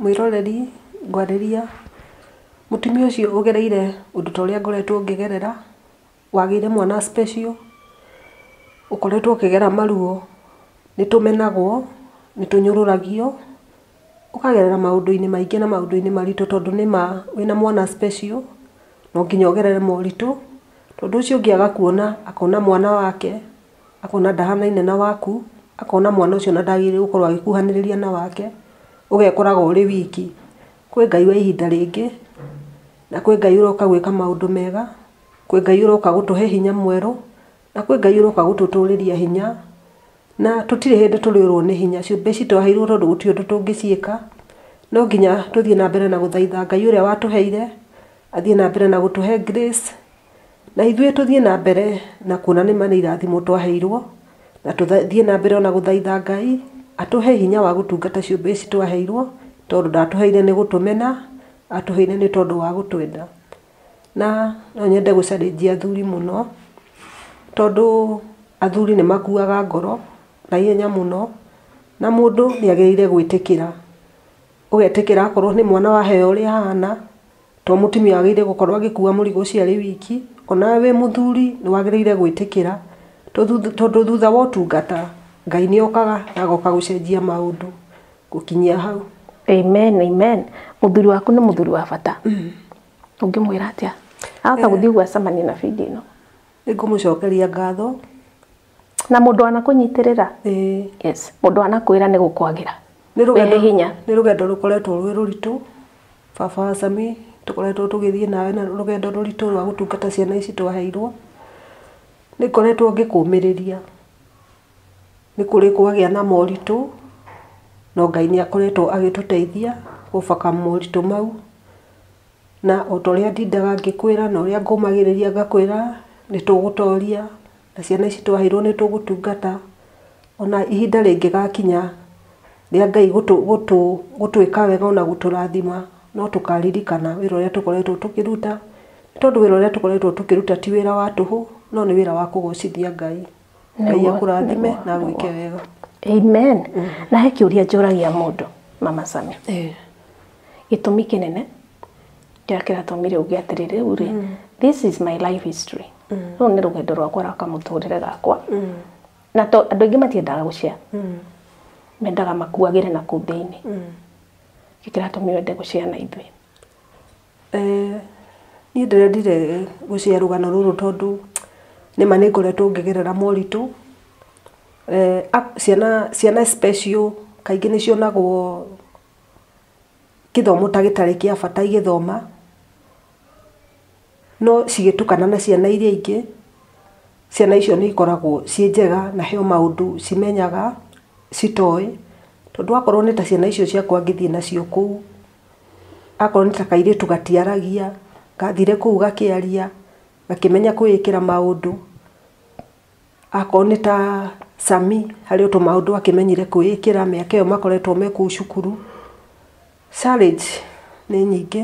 Mwĩroreri ngwarĩria, mũtumia ũcio ũgereire ũndũ ta ũrĩa ngoretwo ngĩgerera, wagĩire mwana special, ũkoretwo ũkĩgera maruo, nĩ tũmenagwo, nĩ tũnyũrũragio, ũkagerera maũndũ-inĩ maingĩ na maũndũ-inĩ maritũ tondũ nĩ ma wĩna mwana special, no nginya ũgerere moritũ, tondũ ũcio ũngĩ agakuona akona mwana wake. akona ndahanaine na waku, akona mwana ũcio ona ndagĩrĩire gũkorwo agĩkuhanĩrĩria na wake, ũgekoraga ũrĩ wiki. Kwĩ Ngai wa ihinda rĩngĩ, na kwĩ Ngai ũroka gwĩka maũndũ mega, kwĩ Ngai ũroka gũtũhe hinya mwerũ, na kwĩ Ngai ũroka gũtũtũrĩria hinya, na tũtirĩ hĩndĩ tũrĩũrwo nĩ hinya. Ciũmbe ici twaheirwo tondũ gũtirĩ ũndũ tũngĩciĩka, no nginya tũthiĩ na mbere na gũthaitha Ngai ũrĩa watũheire, athiĩ na mbere na gũtũhe grace. Na ithuĩ tũthiĩ na mbere na kuona nĩ ma nĩ irathimo twaheirwo, na tũthiĩ na mbere o na gũthaitha Ngai atũhe hinya wa gũtungata ciũmbe ici twaheirwo, tondũ ndatũheire nĩ gũtũmena, atũheire nĩ tondũ wa gũtwenda. Na no nyende gũ challenge athuri mũno, tondũ athuri nĩ makuaga ngoro na ihenya mũno, na mũndũ nĩ agĩrĩire gwĩtĩkĩra, ũgetĩkĩra akorwo nĩ mwana waheo ũrĩa ahana, To mũtumia wagĩrĩire gũkorwo agĩkua mũrigo ũcio arĩ wiki, o nawe wĩ mũthuri nĩ wagĩrĩire gwĩtĩkĩra tondũ thutha wa ũtungata, Ngai nĩ okaga na agoka gũcenjia maũndũ gũkinyia hau. Amen amen. Mũthuri waku nĩ mũthuri wa bata. Ũngĩmwĩra atĩa ahota gũthiĩ ũguo acemanie na bingo ĩno? Nĩ ngũmũcokeria ngatho. na mũndũ anakũnyitĩrĩra ĩĩ yes mũndũ anakwĩra nĩ gũkwagĩra nĩ wĩhe rũgendo hinya nĩ rũgendo rũkoretwo rwĩ rũritũ baba wa Sami tũkoretwo tũgĩthiĩ nawe na rũgendo rũritũ rwa gũtungata ciana ici twaheirwo nĩ ngoretwo ngĩkũmĩrĩria nĩ kũrĩ kwagĩa na moritũ no Ngai nĩ akoretwo agĩtũteithia gũbaka moritũ mau na otorĩa ndindaga ngĩkwĩra na ũrĩa ngũmagĩrĩria ngakwĩra nĩ tũgũtoria Na ciana ici twaheirwo nĩ tũgũtungata, ona ihinda rĩngĩgakinya rĩa Ngai gũtwĩka wega ona gũtũrathima, no tũkaririkana wĩra ũrĩa tũkoretwo tũkĩruta, nĩ tondũ wĩra ũrĩa tũkoretwo tũkĩruta ti wĩra wa tũhũ, no nĩ wĩra wa kũgocithia Ngai. Ngai akũrathime na agwĩke wega. Amen. Na he kĩũria njũragia mũndũ, Mama Sami. Gĩtũmi kĩnene Ndakĩra Tomire uge atĩrĩ rĩu rĩ, mm. this is my life history. Mm. Rũrũ nĩ rũgendo rwakwa rwa kamũtũrĩre gakwa. Mm. Na to andũ aingĩ matiendaga gũcia. Mm. Mendaga makuagĩre na kũu thĩinĩ. Mm. Gĩkĩra Tomire wende gũcia na ithuĩ. Eh, niĩ ndĩrendire gũcia rũgano rũrũ tondũ nĩ ma nĩ ngoretwo ngĩgerera moritũ. Eh, ciana ciana special kaingĩ nĩ cionagwo gĩthomo ta gĩtarĩ kĩa bata igĩthoma, no cigĩtukana na ciana iria ingĩ, ciana icio nĩ ikoragwo ciĩ njega na he maũndũ cimenyaga citoĩ, tondũ akorwo nĩ ta ciana icio ciakwa ngĩthiĩ nacio kũu, akorwo nĩ ta kairĩtu gatiaragia, ngathire kũu gakĩaria, gakĩmenya kwĩĩkĩra maũndũ. Akorwo nĩ ta Sami, harĩ o tũmaũndũ akĩmenyire kwĩĩkĩra mĩaka ĩyo makoretwo me kũu cukuru. Challenge nĩ nyingĩ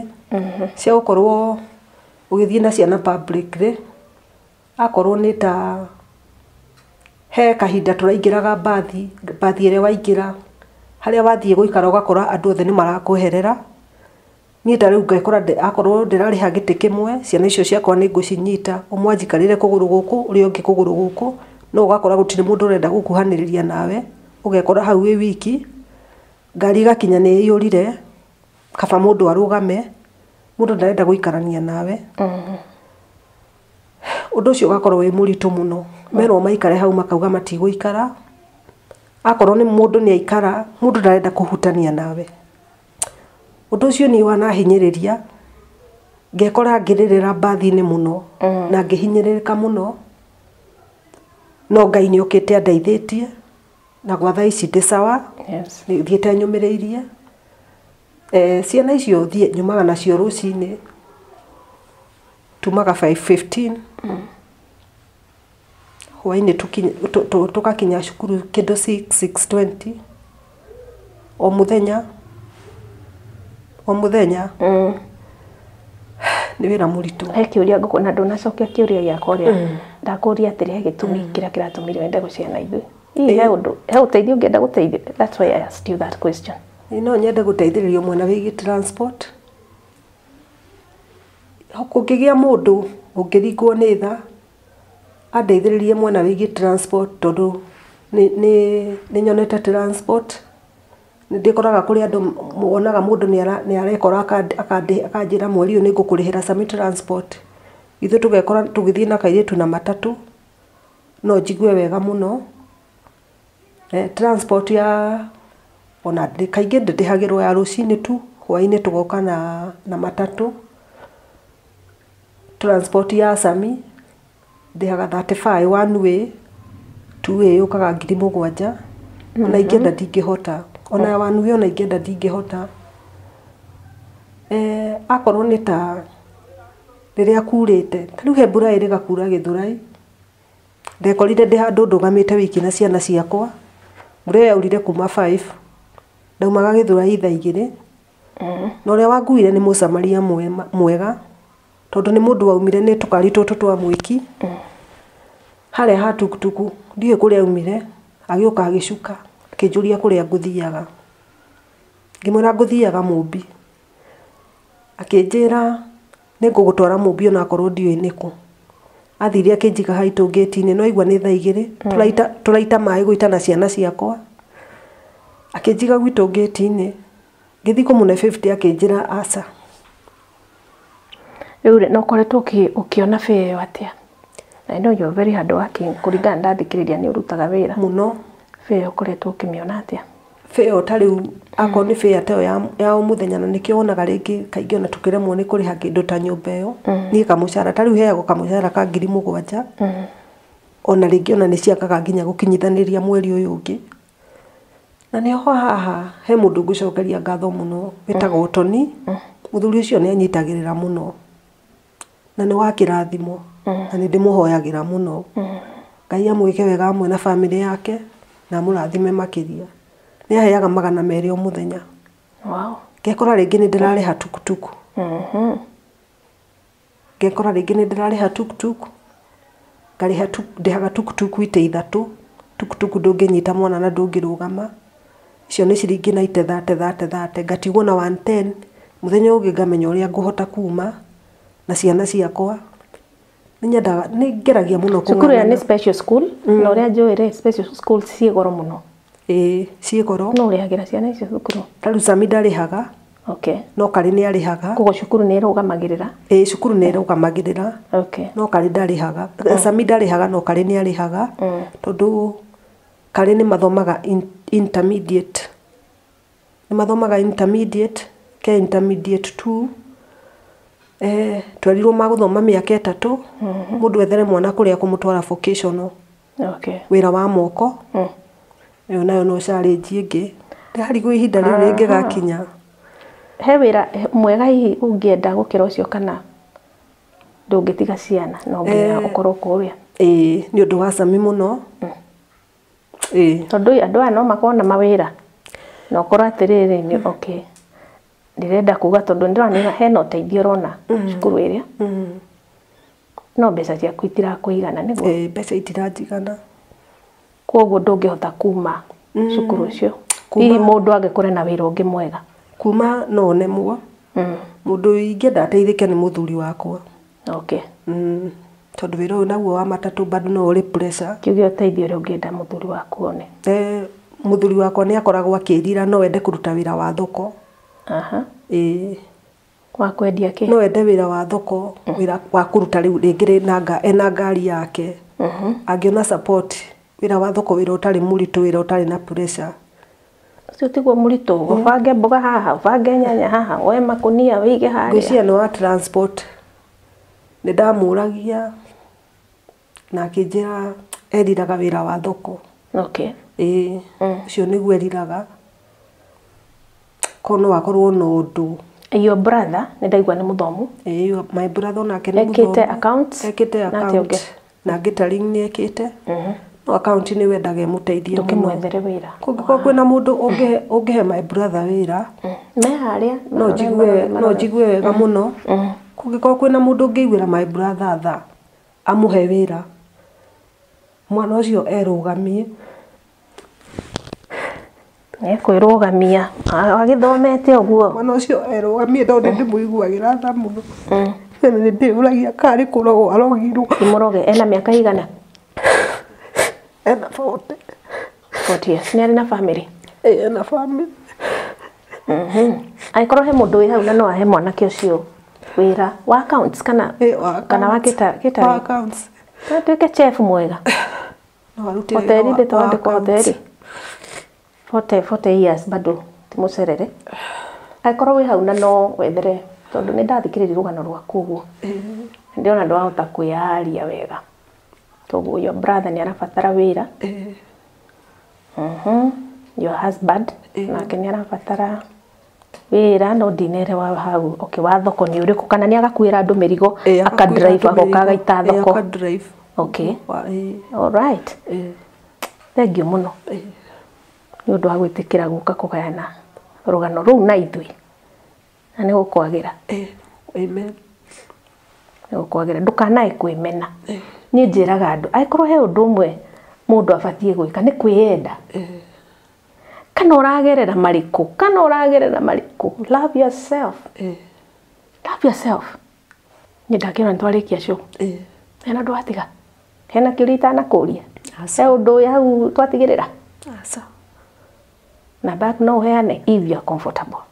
cia gũkorwo ũgĩthiĩ na ciana publicly. Akorwo nĩ ta, he kahinda tũraingĩraga mbathi, mbathi ĩrĩa waingĩra, harĩa wathiĩ gũikara ũgakora andũ othe nĩ marakweherera. Niĩ ta rĩu ngekora ndĩ akorwo ndĩrarĩha gĩtĩ kĩmwe, ciana icio ciakwa nĩ ngũcinyita, ũmwe anjikarĩre kũgũrũ gũkũ, ũrĩa ũngĩ kũgũrũ gũkũ, no ũgakora gũtirĩ mũndũ ũrenda gũkuhanĩrĩria nawe, ũgekora hau wĩ wiki, ngari ĩgakinya nĩ ĩihũrire, kaba mũndũ arũgame, mũndũ ndarenda gũikarania nawe. Ũndũ ũcio ũgakorwo wĩ mũritũ mũno. Merwo maikare hau makauga matigũikara, akorwo nĩ mũndũ nĩ aikara, mũndũ ndarenda kũhutania nawe. Ũndũ ũcio niĩ wanahinyĩrĩria, ngekora ngĩrĩrĩra mbathi-inĩ mũno, na ngĩhinyĩrĩrĩka mũno, no Ngai nĩ okĩte andeithĩtie, na gwa thaa ici ndĩ sawa, thiĩte nyũmĩrĩirie. Ciana icio thiĩ nyumaga nacio rũcinĩ, tumaga five fifteen. hwainĩ tũgakinya cukuru kĩndũ six, six twenty, o mũthenya, o mũthenya nĩ wĩra mũritũ. He kĩũria ngũkũria na ndũnacokia kĩũria gĩakwa ũrĩa ndakũria atĩrĩ he gĩtũmi kĩrĩa kĩratũmire wende gũcera na ithuĩ. Hihi he ũteithio ũngĩenda gũteithĩka that's why I asked you that question. Ĩĩ no nyende gũteithĩrĩrio mwena wĩgiĩ transport. kũngĩgĩa mũndũ ũngĩringwo nĩ tha, andeithĩrĩrie mwena wĩgiĩ transport tondũ nĩ nĩ nĩ nyonete transport, nĩ ndĩkoraga kũrĩ andũ wonaga mũndũ nĩ ara nĩ arekora akanjĩra mweri ũyũ nĩ ngũkũrĩhĩra summer transport, ithuĩ tũgekora tũgĩthiĩ na kairĩtu na matatũ, no njigue wega mũno. Transport ya ona kaingĩ ndĩrĩhagĩrwo ya rũcinĩ tu, hwainĩ tũgoka na matatũ. Transport ya Sami ndĩhaga thirty five one way, two way yũkaga ngiri mũgwanja, ona ingĩenda ndingĩhota, ona ya one way ona ingĩenda ndingĩhota. Akorwo nĩ ta rĩrĩa kurĩte, ta rĩu he mbura ĩrĩga kura Gĩthũrai. Ndekorire ndĩ handũ ndũgamĩte wiki na ciana ciakwa, mbura ĩyo yaurire kuma five, ndaumaga Gĩthũrai thaa igĩrĩ, na ũrĩa wanguire nĩ mũsamaria mwega, tondũ nĩ mũndũ waumire nĩ tũkari tũtũ twa mwĩki, harĩa ha tukutuku, ndiũĩ kũrĩa aumire, agĩũka agĩcuka, akĩnjũria kũrĩa ngũthiaga, ngĩmwĩra ngũthiaga Mũmbi, akĩnjĩra. Nĩngũgũtwara Mũmbi o na korwo ndiũĩ nĩ kũ. Athire akĩnjiga haitũ ngĩti-inĩ, nĩ waigua nĩ thaa igĩrĩ, tũraita maĩ gũita na ciana ciakwa. Akĩnjiga gwitũ ngĩti-inĩ, ngĩthiĩ kũmũne bĩbute akĩnjĩra aca. Rĩu rĩ, na ũkoretwo ũkĩona bee ĩyo atĩa? I know you are very hardworking, kũringana na ndathikĩrĩria nĩ ũrutaga wĩra. Mũno. Bee ĩyo ũkoretwo ũkĩmĩona atĩa? Fare ĩyo ta rĩu akorwo nĩ fare ta ĩyo ya o mũthenya na nĩkĩo wonaga rĩngĩ kaingĩ ona tũkĩremwo nĩ kũrĩha kĩndũ ta nyũmba ĩyo niĩ kamũcara ta rĩu heagwo kamũcara ka ngiri mũgwanja ona rĩngĩ ona nĩ ciagaga nginya gũkinyithanĩria mweri ũyũ ũngĩ. Na nĩ ho haha he mũndũ ngũcokeria ngatho mũno wĩtagwo Tony, mũthuri ũcio nĩ anyitagĩrĩra mũno. na nĩ wa kĩrathimo na nĩ ndĩmũhoyagĩra mũno ngai amwĩke wega amwe na bamĩrĩ yake na amũrathime makĩria nĩ aheaga magana merĩ o mũthenya Wow. ngekora rĩngĩ nĩ ndĩrarĩha tukutuku ngekora rĩngĩ nĩ ndĩrarĩha tukutuku ngarĩha tuk ndĩhaga tuktuk itĩ ithatũ, tuktuk ndũngĩnyita mwana na ndũngĩrũgama, icio nĩ ciringi naite thate thate thate, ngatigwo na one ten, mũthenya ũngĩ ngamenya ũrĩa ngũhota kuuma na ciana ciakwa, nĩ nyendaga nĩ ngeragia mũno kũng'ang'ana. Cukuru ĩyo nĩ special school, na ũrĩa njũĩ rĩ, special school ciĩ goro mũno. Ĩĩ ciĩ goro. Nũ ũrĩhagĩra ciana icio cukuru? Rũcami ndarĩhaga. Okay. No Karĩ nĩ arĩhaga. Koguo cukuru nĩ ĩrũgamagĩrĩra? Ĩĩ cukuru nĩ ĩrũgamagĩrĩra. Okay. No Karĩ ndarĩhaga. Rũcami ndarĩhaga no Karĩ nĩ arĩhaga. Tondũ Karĩ nĩ mathomaga intermediate. Nĩ mathomaga intermediate, ke intermediate two. Twerirwo magũthoma mĩaka ĩtatũ. Mũndũ ethere mwana kũrĩa ekũmũtwara vocational. Okay. wĩra wa moko Mm. ĩyo nayo no challenge ĩngĩ ndarigwo ihinda rĩu rĩngĩgakinya He wĩra mwega hihi ũngĩenda gũkĩra ũcio kana ndũngĩtiga ciana no nginya Eh. ũkorwo kũrĩa. ĩĩ nĩ ũndũ wa cami mũno ĩĩ Tondũ ĩ, andũ aya no makorwo na mawĩra na ũkorwo atĩrĩrĩ nĩ okay. Ndĩrenda kuga tondũ nĩndĩrona hena ũteithio ũrona cukuru ĩrĩa. Mm. No mbeca ciaku itirakũigana nĩguo? Ĩĩ mbeca itiranjigana. Kwoguo ndũngĩhota kuma cukuru ũcio? Hihi mũndũ angĩkũre na wĩra ũngĩ mwega? Kuma no nemwo. Mũndũ ingĩenda ateithĩke nĩ mũthuri wakwa. Okay. Tondũ wĩra ũyũ naguo wa matatũ bado no ũrĩ pressure. Tuge ũteithio ũrĩa ũngĩenda mũthuri waku one? Mũthuri wakwa nĩ akoragwo akĩĩrira no ende kũruta wĩra wa thoko. Ĩĩ. Wa kwendia kĩ? No ende wĩra wa thoko, wĩra wa kũruta rĩu rĩngĩ rĩ na nga ena ngari yake, angĩona support, wĩra wa thoko wĩra ũtarĩ mũritũ, wĩra ũtarĩ na pressure. Ũcio tiguo mũritũ, ũbange mboga haha, ũbange nyanya haha, woe makũnia wĩige harĩa. Ngwĩciria nĩ wa transport. Nĩndamũragia. na akĩnjĩra eriraga wĩra wa thoko okay ĩĩ Mm. ũcio nĩguo eriraga korwo no akorwo na ũndũ your brother nĩ ndaigua nĩ mũthomu ĩĩ yo- my brother onake nĩ ekĩte mũthomu. account ekĩte na account akĩonge na ngĩtaring nĩ ekĩte no account nĩ wendaga ĩmũteithie mũno ndũkĩmwethere wĩra kũngĩkorwo kwĩna mũndũ ũngĩhe- ũngĩhe my brother wĩra me harĩa no njigue no njigue wega mũno kũngĩkorwo kwĩna mũndũ ũngĩiguĩra my brother tha amũhe wĩra, mwana ũcio erũgamie, ekwĩrũgamia agĩthomete ũguo, mwana ũcio erũgamie tondũ nĩ ndĩmũiguagĩra tha mũno, na nĩ ndĩyũragia kana nĩ kũrogwo arogirwo. Nĩ mũroge, ena mĩaka ĩigana? Ena bote. Forty years. Nĩ arĩ na family? Ĩĩ ena family. Angĩkorwo he mũndũ wĩ hau na no ahe mwanake ũcio wĩra wa accounts kana Ĩĩ wa kana wa accounts. kita kita Wa accounts. no tuĩke chef mwega No arute wĩra hoteli wa- ndĩ wa twandĩkwo accounts. hoteli forty forty years bado ti mũcerere angĩkorwo wĩ hau na no wethere tondũ nĩ ndathikĩrĩria rũgano rwaku ũguo ndĩrona ndwahota kwĩyaria wega Toguo your brother nĩ arabatara wĩra. Eh. Mhm. Your husband eh. nake nĩ arabatara wĩra no ndinerewa hau okay wa thoko nĩ ũrĩkũ kana nĩ agakuĩra andũ mĩrigo eh, aka drive agoka agaita eh, thoko okay eh. all right thank you muno nĩ ũndũ wa gwĩtĩkĩra gũka kũgayana rũgano rũu na ithuĩ Na nĩ gũkwagĩra. Eh, amen. Nĩ gũkwagĩra. Ndũkanae kwĩmena. Eh. Niĩ njĩraga andũ, angĩkorwo he ũndũ ũmwe mũndũ abatiĩ gwĩka nĩ kwĩyenda. Eh. Kana ũragerera marĩkũ? Kana ũragerera marĩkũ? Love yourself. Eh. Love yourself. Nĩ ndakĩona nĩ twarĩkia show. Eh. Hena andũ atiga. Hena kĩũria itanakũria. He ũndũ ũyũ hau twatigĩrĩra. Aca. Namba yaku no ũheane if you are comfortable.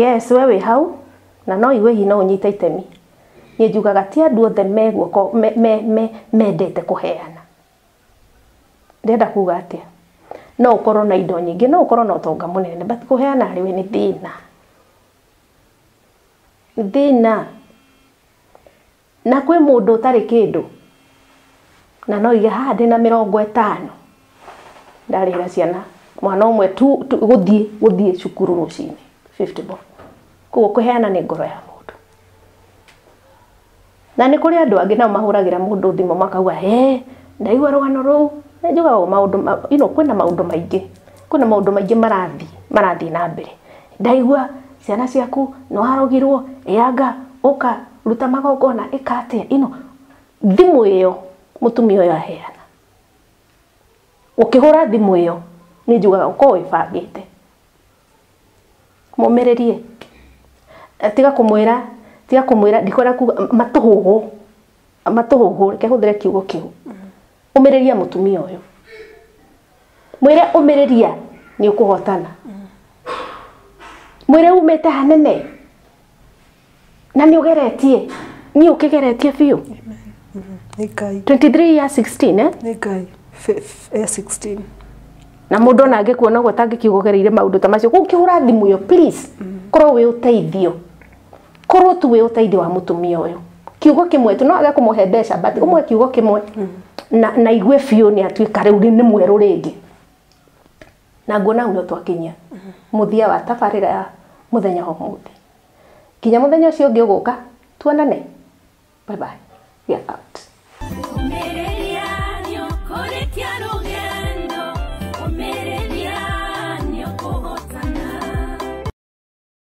Yes we wĩ hau na no igue hihi no ũnyite itemi. Niĩ njugaga ti andũ othe me guoko me, me, me, mendete kũheana. Ndĩrenda kuga atĩa? No ũkorwo na indo nyingĩ, no ũkorwo na ũtonga mũnene, but kũheana harĩ we nĩ thĩna. Nĩ thĩna. Na kwĩ mũndũ ũtarĩ kĩndũ? Na no uge haha ndĩna mĩrongo ĩtano, ndarĩhĩra ciana mwana ũmwe tu tu gũthiĩ gũthiĩ cukuru rũcinĩ, fifty bob. Koguo kũheana nĩ ngoro ya mũndũ. Na nĩ kũrĩ andũ angĩ nao mahũragĩra mũndũ thimũ makauga hee, ndaigua rũgano rũu. Nĩ njũgaga ũũ maũndũ ma you know kwĩna maũndũ maingĩ, kwĩna maũndũ maingĩ marathiĩ marathiĩ na mbere. Ndaigua ciana ciaku nĩwarogirwo, ĩanga, ũka, ruta magongona, ĩka atĩa, ino. Thimũ ĩyo mũtumia ũyũ aheana, ũkĩhũra thimũ ĩyo, niĩ njugaga ũkoragwo wĩbangĩte. Mũmĩrĩrie. Tiga kũmwĩra, tiga kũmwĩra, ndikwenda kuga, matũhũhũ. matũhũhũ reke hũthĩre kiugo kĩu ũmĩrĩria mũtumia ũyũ mwĩre ũmĩrĩria nĩ ũkũhotana mwĩre umĩte hanene na nĩ ũgeretie niĩ ũkĩgeretie biũ Nĩ Ngai. 23 ya 16 eh? Nĩ Ngai. Fe- f- eh, 16. na mũndũ ona angĩkuona ũguo atangĩkiuga ũgereire maũndũ ta macio kũu kĩhũra thimũ ĩyo please korwo wĩ ũteithio Korwo tu wĩ ũteithio wa mũtumia ũyũ kiugo kĩmwe tu no age kũmũhe mbeca but ũmwe kiugo kĩmwe na, na igue biũ nĩ atuĩka rĩu nĩ mwerũ rĩngĩ na nguona hau no twakinyia mũthia wa tabarĩra ya mũthenya wa ũmũthĩ nginya mũthenya ũcio ũngĩ ũgũka tuonane bye bye we are out Ũmĩrĩria nĩ ũkũrĩkia rũgendo, ũmĩrĩria nĩ ũkũhotana.